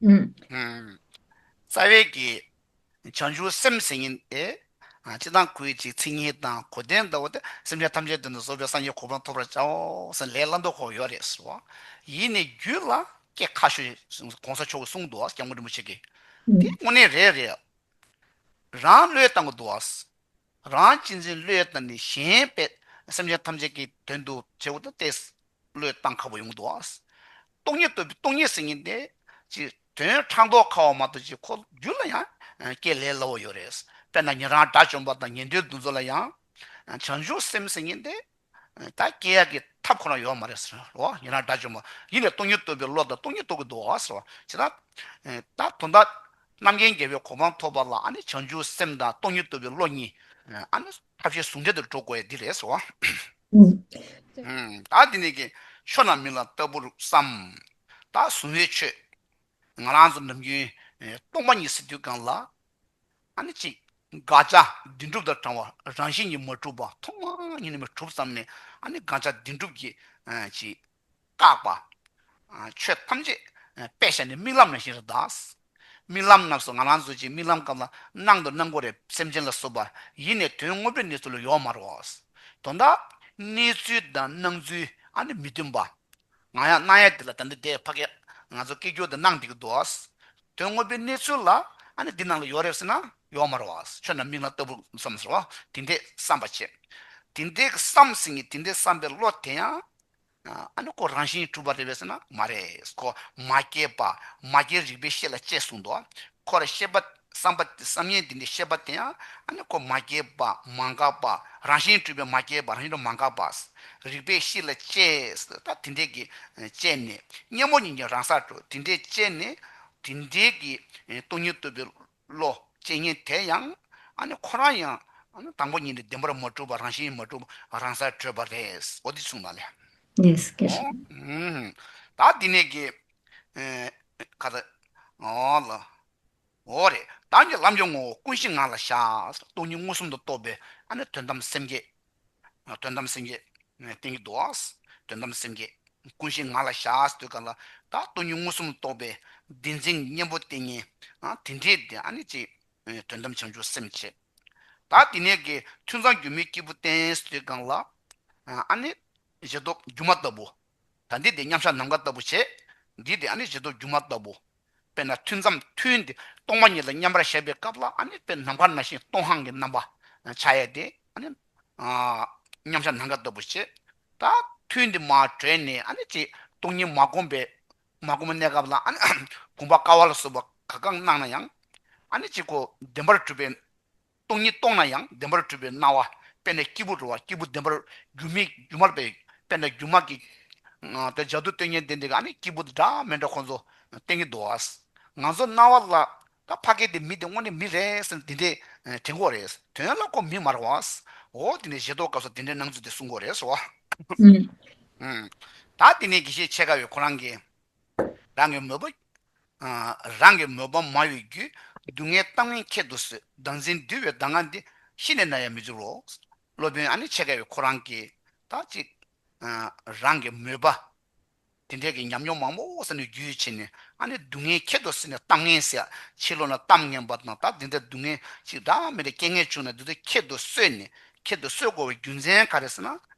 རྩ་བའི་རྒྱལ། བྱང་ཆུབ་སེམས་སེམས་ཉིད་དེ། ཅི་དང་གུས་ཅི་ཚིག་ཉིད་དང་གོ་བདེན་དུ། སེམས་ཅན་ཐམས་ཅད་དོན་དུ་གཟོ་བའི་སངས་རྒྱས་གོ་འཕང་ཐོབ་པར་བྱའོ། ལས་སླ་མདོ་ཁོག་ཡོད་རེད་ཟེར་བ། ཡིད་ནི་རྒྱུད་ལ་སྐྱེ་ཁ་ཤོས། གོང་ས་མཆོག་གི་གསུང་དུ་སྐྱབས་མགོན་རིན་པོ་ཆེ་གིས། དེ་དངོས་གནས་རེད་རེད། རང་བློས་བཏང་གི་འདུག། རང་གཅེས་འཛིན་བློས་བཏང་ནས་གཞན་པའི་སེམས་ཅན་ཐམས་ཅད་ཀྱི་དོན་དུ་བྱེད་དགོས་དུ་གཏད། བློས་བཏང་ཁ་བོ་ཡོང་གི་འདུག་ཨང། སྟོང་ཉིད་བསྟོད་པའི་སྟོང་ཉིད་ཟེར་ངེས་ཏེ། ཅེས་དོན་ཕྲག་མདོག་ཁ་བ་མ་གཏོགས་ཀྱི་འཁོར་རྒྱུན་ལ་ཡང་སྐད་ལས་སླ་བོ་ཡོད་རེད། དཔེར་ན་ཉན་རང་དགྲ་བཅོམ་པ་དང་ཉན་ཐོས་འདུ་འཛོ་ལ་ཡང། བྱང་ཆུབ་སེམས་ཟེར་ངེས་ཏེ། ད་སྐྱེ་ཡག་གི་ཐབས་ཁོ་ན་ཡོད་མ་རེད་ཟེར་རོ། ཉན་རང་དགྲ་བཅོམ་པ་ཡིན་པས་སྟོང་ཉིད་བསྟོད་པའི་བློ་དང་སྟོང་ཉིད་རྟོགས་ཀྱི་འདུག་ཟེར་བ་ཇི་ལྟར། ད་དོན་དག་རྣམ་མཁྱེན་རྒྱལ་བའི་གོ་འཕང་ཐོབ་པ་ལ་ཨ་ནི་བྱང་ཆུབ་སེམས་དང་སྟོང་ཉིད་བསྟོད་པའི་བློ་གཉིས། ཨ་ནི། ཐབས་ཤེས་ཟུང་འབྲེལ་དུ་འགྲོ་དགོས་འདི་རེད་བཟོ། བདག་འདི་ནས་ཀྱི། ཕྱོགས་རྣམས་མི་ལ་ལྟ་བུར་བསམ། བདག་གཟུང་བའི་ཆོས། ང་རང་ཚོ་ནམ་རྒྱུན། སྟོང་པ་ཉིད་སེམས་དུས་གང་ལ། ཨ་ནི་གཅིག། དགག་བྱ་བདེན་གྲུབ་དང་བགྲང་བ་རང་བཞིན་གྱིས་མ་གྲུབ་པ་ཐོག་མ་ཉིད་ནས་མི་གྲུབ་བསམ་ནས་ཨ་ནི་དགག་བྱ་བདེན་གྲུབ་ཀྱིས་གཅིག། བཀག་པ། ཆོས་ཐམས་ཅད་པད་ཞལ་ནས་རྨི་ལམ་ན་བཞིན་རུ་གདའ། རྨི་ལམ་རྣམས་སུ་ང་རང་གཟུགས་ཅན་རྨི་ལམ་སྐབས་ལ་སྣང་དུ་སྣང་གོ་རེ་སེམས་ཅན་ལ་བསུ་བ་ཡིས་ནས་དོན་དངོས་པོའི་གནས་ཚུལ་ཡོག་མ་རོ། དོན་དག་གནས་ཚུལ་དང་སྣང་ཚུལ་ཨ་ནི་མི་མཐུན་པ། ང་ཡང་སྣང་ཡ་འདི་ལ་ད་འདི་འདའི་ཕ་གས་ང་ཚོ་སྐད་སྒྱུར་དུ་སྣང་འདི་གི་འདུག་དོན་དངོས་པོའི་གནས་ཚུལ་ལ་ཨ་ནི་འདི་སྣང་ལ་ཡོག་རེ་བསུ་ན་ཡོག་མ་རོ། ཆོས་རྣམས་མིག་ལ་ལྟ་བུར་བསམས་སོ། དེ་འདའི་བསམ་པ་བྱེད། དེ་འདའི་གི་བསམ་ཟིན་གྱི་དེ་འདའི་བསམ་པའི་བློ་དེ་ཡང་ཨ་ནུ་ཀོ་རང་བཞིན་གྲུབ་པར་རེ་བས་ཟེར་ན་མ་རེད་ཀོ། མ་སྐྱེས་པ། མ་སྐྱེས་རིག་པའི་ཤེས་ལ་དཔྱད་གསུངས་འདུག་ཁོ་ར་ཤེས་པ། བསམ་པ། བསམ་ཡས་འདི་འདྲའི་ཤེས་པ་དེ་ཡང་ཨ་ནུ་ཀོ་མ་སྐྱེས་པ། མ་འགགས་པ། རང་བཞིན་གྲུབ་པའི་མ་སྐྱེས་པ་རང་བཞིན་དུ་མ་འགགས་པ། རིག་པའི་ཤེས་ལ་དཔྱད། ད་དེ་འདྲས་ཀྱི། དཔྱད་ནས། གཉེན་པོ་ཉིད་ཀྱི་རང་སར་གྲུབ་དེ་འདྲས་དཔྱད་ནས། དེ་འདྲས་ཀྱི། སྟོང་ཉིད་བསྟོད་པའི། བློ། ཅེས་ཉིད་དེ་ཡང་ཁོ་རང་ཡང་དང་པོ་ཉིད་ནས་བདེན་པར་མ་གྲུབ་པ་རང་བཞིན་མ་གྲུབ་པ་རང་སར་གྲོལ་བ་རེད་འོ་དེ་གསུངས་པ་ལས། Yes ཀྱི་རེད། ད་འདི་ནས་ཀྱི། ཁ་ཏ། ལ། འོ་རེད། བདག་གི་ལམ་གྱི་ངོ་བོ་ཀུན་གཞི་ངང་ལ་བཞག། སྟོང་ཉིད་མངོན་སུམ་དུ་རྟོགས་པའི་དོན་དམ་སེམས་བསྐྱེད། དོན་དམ་སེམས་ཀྱི། སྟེང་གི་རྡོ། དོན་དམ་སེམས་ཀྱི། ཀུན་གཞི་ངང་ལ་བཞག་ཟློས་གར་ལ། བདག་སྟོང་ཉིད་མངོན་སུམ་རྟོགས་པའི། བདེན་འཛིན་གཉེན་པོ་ལྟས་ངན། དེ་འདྲའི་བདེན་ཨ་ནི་ཅི། དོན་དམ་བྱང་ཆུབ་སེམས་བྱེད། བདག་དེ་ནས་ཀྱི། ཐུན་ཚང་སྒྱུ་མའི་སྐྱེས་བུ་བསྟན། ཟློས་གར་ལ། ཨ་ནི། བཞི་སྟོབས་སྒྱུ་མ་ལྟ་བུ། ད་འདི་དེ་མཉམ་བཞག་ནམ་མཁའ་ལྟ་བུ་བྱེད། འདི་དེ་ཨ་ནི་བྱེད་རྟོག་སྒྱུ་མ་ལྟ་བུ། དཔེར་ན་ཐུན་མཚམས་ཐུན་ཏེ་སྟོང་པ་ཉིད་ལ་མཉམ་པར་གཞག་པའི་སྐབས་ལ་ཨ་ནི་དཔེར་ནམ་མཁར་ན་ཞིང་སྟོང་ཧང་གི་རྣམ་པ་ཆ་ཡས་ཏེ་ཨ་ནི། མཉམ་བཞག་ནམ་མཁའ་ལྟ་བུ་བྱེད། ད་ཐུན་འདི་མ་གྲོལ་ནས་ཨ་ནི་ཅེས་སྟོང་ཉིད་མ་བསྒོམ་པའི། མ་བསྒོམ་གནས་སྐབས་ལ་ཨ་ནི། བསྒོམ་པ་དཀའ་བ་ལ་སོགས་པ་ག་གང་སྣང་ན་ཡང། ཨ་ནི་ཅེས་གོ་བདེན་པར་གྲུབ་པའི། སྟོང་ཉིད་སྟོང་ན་ཡང་བདེན་པར་གྲུབ་པའི་སྣང་བ་དཔེར་ན་སྐྱིད་པོ་འགྲོ་བ་སྐྱིད་པོ་བདེན་པར་སྒྱུ་མའི་སྒྱུ་མར་བས་དཔེར་ན་སྒྱུ་མ་གི། དེ་ལྗགས་དུ་སྟོན་ཉན་ཏེ་འདི་ག་ནི་སྐྱིད་པོ་འདྲ་མི་འདྲ་ཁོ་ཚོ་སྟེང་གི་དོ་ཨ། ང་ཚོ་སྣང་བ་ལ། ད་ཕ་གི་དེ་མི་དེ་དངོས་གནས་མི་རེད་ཟེར་ན་དེ་འདྲའི་དྲན་གོ་རེད། དོན་ལ་ཁོ་མི་མ་རེད་བ། འོ་དེ་ནས་ཞེ་དོག་སྐབས་སུ་དེ་འདྲའི་སྣང་ཚུལ་དེ་གསུང་གོ་རེད་ཟེར་བ། ད་དེ་ནས་དགེ་བཤེས་ཆེ་དགའ་བས་ཁོ་རང་གི། རང་གི་མོས་པོ། རང་གི་མོས་པ་མ་གཡོས་བརྒྱུད། སྡུག་བསྔལ་བཏང་མིན་ཁྱད་དུ་གསོད། བདག་འཛིན་འདུལ་བའི་གདམས་ངག་འདི། ཤི་ནས་ན་ཡང་མི་འགྱུར་རོ། སློབ་དཔོན་ཨ་ནི་ཆེ་ཁ་བའི་ཁོ་རང་གིས། དག་ཅིག། རང་གི་མོས་པ། དེ་འདྲའི་གི་ཉམས་མྱོང་མང་པོ་བསགས་ནས་རྒྱུད་ཕྱེ་ནས་ཨ་ནི་སྡུག་བསྔལ་ཁྱད་དུ་གསོད་ནས་གཏམ་ངན་བཤད། ཕྱི་ལོགས་ན་གཏམ་ངན་པ་དང་དག་འདི་འདྲའི་སྡུག་བསྔལ་ཅིག་བདག་མེད་པའི་རྐྱེན་ངན་བྱུང་ན་འདི་ཚོ་ཁྱད་དུ་གསོད་ནས་ཁྱད་དུ་གསོད་དགོས་པའི་རྒྱུ་མཚན་ག་རེ་ཟེར་ན།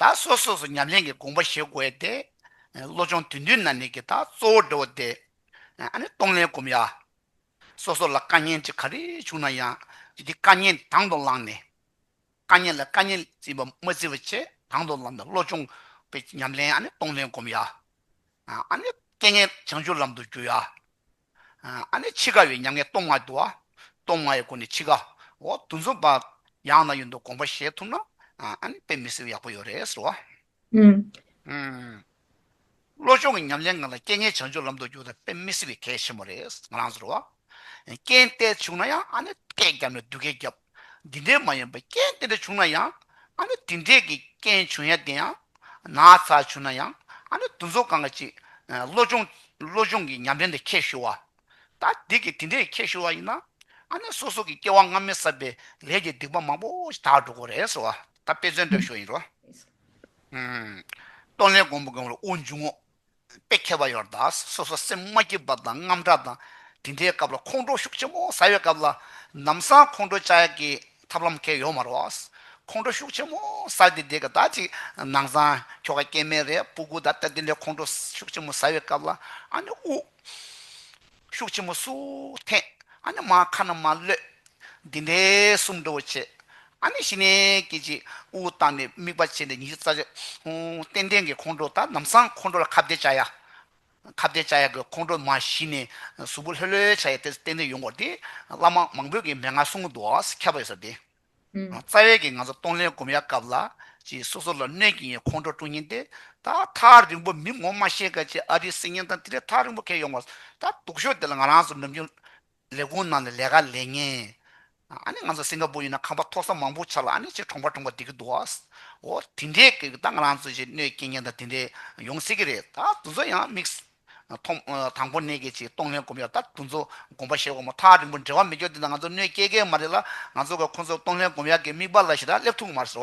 ད་སོ་སོ་སོ་ཉམས་ལེན་གྱི་དགོངས་པ་ཞེས་བསྒོ་ཡ་སྟེ། བློ་སྦྱོང་དུས་མཐུན་ན་ནི་གི་དག་གཙོ་བོར་འགྲོ་བ་སྟེ། ཨ་ནི་གཏོང་ལེན་བསྒོམ་ཡ། སོ་སོ་ལ་དཀའ་ཉེན་ཅི་ག་རེ་བྱུང་ན་ཡང་འདི་དཀའ་ཉེན་དང་དུ་བླངས་ནས། དཀའ་ཉེན་ལ་དཀའ་ཉེན་བརྩི་བ་མ་བརྩི་བ་བཅས་དང་དུ་བླངས་ནས་བློ་སྦྱོང་གི་ཉམས་ལེན་ཨ་ནི་གཏོང་ལེན་བསྒོམ་ཡ། ཨ་ནི་རྐྱེན་ངན་བྱང་ཆུབ་ལམ་དུ་བསྒྱུར་ཡ། ཨ་ནི་འཆི་ཁ་ཡི་མྱ་ངན་སྟོང་མངའི་འདུ་བ། སྟོང་མངའི་སྒོ་ནས་འཆི་ཁ། འོ་དུ་འཛོམས་པ། ཡང་ན་ཡོད་འདུག་དགོངས་པ་བཞེས་ཐུབ་ན། ཨ་ནི་དཔེ་མི་སྲིད་ཡག་པོ་ཡོད་རེད་ཟེར་བ། བློ་སྦྱོང་གི་ཉམས་ལེན་ང་ལ་སྐྱེ་ངན་བྱང་ཆུབ་ལམ་དུ་བསྒྱུར་ད་དཔེ་མི་སྲིད་པའི་གལ་ཆེན་མོ་རེད་ང་རང་ཟེར་བ། རྐྱེན་བལྟས་བྱུང་ན་ཡང་ཨ་ནི་སྐད་བརྒྱབ་ནས་སྡུག་སྐད་བརྒྱབ། འདི་འདྲའི་མ་ཡིན་པ་རྐྱེན་དེ་འདྲ་བྱུང་ན་ཡང་ཨ་ནི་དེ་འདྲས་ཀྱི་རྐྱེན་བྱུང་ཡ་དེ་ཡང་ན་ཚ་བྱུང་ན་ཡང་ཨ་ནི་དུ་འཚོ་གང་ག་ཅིག་བློ་སྦྱོང་བློ་སྦྱོང་གི་ཉམས་ལེན་དེ་ཁྱེད་ཞུ་བ། ད་འདི་གི་དེ་འདྲས་ཁྱེད་ཞུ་བ་ཡིན་ན་ཨ་ནི་སོ་སོ་གི་སྐྱེ་བ་སྔ་མའི་བསགས་པའི་ལས་ཀྱི་སྡིག་པ་མང་པོ་ཞིག་དག་འགྲོ་དགོས་རེད་ཟེར་བ་ད་དཔེ་མཚོན་འདོད་ཤོར་ཡིན་རོ། ཨུ། སྟོང་ལས་སྒོམ་པོ་སྒོམ་ལ་དབུགས་འབྱུང་ངོ། དཔེ་མཁས་པ་ཡོར་དྭགས་སོ་སོར་སེམས་མ་སྐྱིད་པ་དང་རྔམ་དྲག་དང། དེ་འདྲའི་སྐབས་ལ་ཁོང་ཁྲོ་ཤུགས་ཆེན་པོ་ཟ་བའི་སྐབས་ལ། ནམ་སང་ཁོང་ཁྲོ་བཅའ་ཡག་གི་ཐབས་ལམ་མཁས་ཡོད་མ་རོགས། ཁོང་ཁྲོ་ཤུགས་ཆེན་པོ་ཟ་དེ་དེ་ག་ད་ཅིག་ནང་སང་ཁྱོ་ག་སྐྱེས་མེད་རེད་སྤུ་གུ་ད་ལྟ་དེ་འདྲའི་ཁོང་ཁྲོ་ཤུགས་ཆེན་པོ་ཟ་བའི་སྐབས་ལ་ཨ་ནི་དབུགས། ཤུགས་ཆེན་མོ་སུ་འཐེན། ཨ་ནི་མ་ཁ་ན་མ་གློད། འདི་འདྲའི་གསུམ་འགྲོ་བོ་ཆེ། ཨ་ནི་ཞི་གནས་ཀྱི་ཅིག་དབུ་བཏགས་ནས་དམིགས་པ་བྱས་ནས་ཉི་ཤུ་རྩ་གཅིག། རྟེན་འབྲེལ་གྱི་ཁོང་ཁྲོ་དང་ནམ་སང་ཁོང་ཁྲོ་ལ་ཁ་བརྡའི་བྱ་ཡ། ཁ་བརྡའི་བྱ་ཡ་གི་ཁོང་ཁྲོ་མ་ཞི་ནས་གཟུགས་པོ་ལྷོད་ལྷོད་བྱ་ཡ་དེ་རྟེན་འབྲེལ་ཡོང་སྐོར་དེ་བླ་མ་མང་པོས་ཀྱི་མན་ངག་གསུང་གི་འདུག་ཨ་ཟེར་ཁྱབ་པ་ཡོད་ས་དེ། རྩ་བའི་གིས་ང་ཚོ་གཏོང་ལེན་གོམ་ཡ་སྐབས་ལ་ཅིག་སོ་སོ་ལ་གནོད་ཀྱིན་ཡོད་ཁོང་ཁྲོ་སྤྲོ་ཉིན་ཏེ་ད་ཐག་རིང་པོ་མི་ངོ་མ་ཤེས་གལ་ཆེ་ཨ་རིའི་སྲིད་ཉེན་དང་དེ་ལས་ཐག་རིང་པོ་ཁེལ་ཡོང་བ་ད་སྡུག་ཤོས་དེ་ལ་ང་རང་ཚོ་ནམ་རྒྱུན་ལས་ཁུངས་ནང་ལས་ལས་ཀ་ལས་ཉེན་ཨ་ནི་ང་ཚོ་སིང་ག་པུར་ཡིན་ན་ཁང་པ་མཐོ་ས་མང་པོ་ཆགས་ལ་ཨ་ནི་ཆེས་གྲོང་པ་གྲོང་པ་བསྡད་ཀྱི་འདུག་འོ་དེ་འདྲའི་གིས་ད་ང་རང་ཚོ་ཞིག་གནོད་སྐྱེལ་ཉེན་དང་དེ་འདྲའི་ཡོང་སྲིད་ཀྱི་རེད་ད་དུས་ཚོད་ཡང་དམིགས། དང་པོ་ནད་ཀྱི་ཆེད་གཏོང་ལྷན་སྒོམ་ཡང་དག་དུ་འཛོ་སྒོམ་པ་ཞེས་བ་མོ་ཐག་རིང་པོ་འབྲེལ་བ་མི་འཇོག་དེ་འདྲ་ང་ཚོར་གནོད་སྐྱེལ་མཁན་མ་རེད་ལ་ང་ཚོ་ག་ཁོ་ཚོར་གཏོང་ལྷན་སྒོམ་ཡག་གི་དམིགས་པ་ལ་ཞེ་དྲག་སླེབས་ཐུག་མར་ཟེར་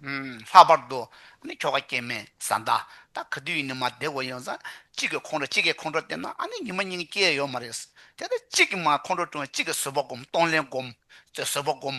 བ། ལྷག་པར་དུ། ཨཱ་ནི་ཁྱོ་ག་སྐྱེས་མས་བཟའ་ཟླ་ད་ག་དུས་ཡིན་ནི་མ་བསྡད་གོ་ཡོང་ཙང་གཅིག་གི་ཁོང་ཁྲོ་གཅིག་གི་ཁོང་ཁྲོ་བསྟེན་ན་ཨཱ་ནི་ཉི་མ་གཉིས་སྐྱེལ་ཡོད་མ་རེད། དེ་ལྟར་གཅིག་གི་མར་ཁོང་ཁྲོ་བསྐྲུན་བ་གཅིག་གི་བཟོད་པ་སྒོམ་གཏོང་ལྷན་སྒོམ། བཟོད་པ་སྒོམ།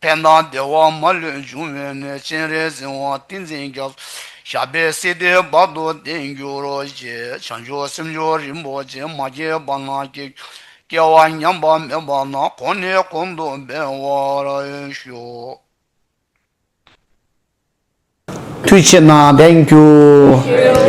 བསྟན་དང་བདེ་བ་མ་ལུས་འབྱུང་བའི་གནས། སྤྱན་རས་གཟིགས་དབང་ཏིང་འཛིན་རྒྱབ། ཞབས་པད་སྲིད་སྡེ་བར་དུ་ལྡན་གྱུར་ཅིག། བྱང་ཆུབ་སེམས་མཆོག་རིན་པོ་ཆེ་མ་སྐྱེས་པ་ན་སྐྱེ། སྐྱེ་བ་ཉམས་པ་མེད་པ་ན་གོང་ནས་གོང་དུ་འཕེལ་བར་ཤོག། མཐུ་ཆེ་ན་ལྡན་གྱུར།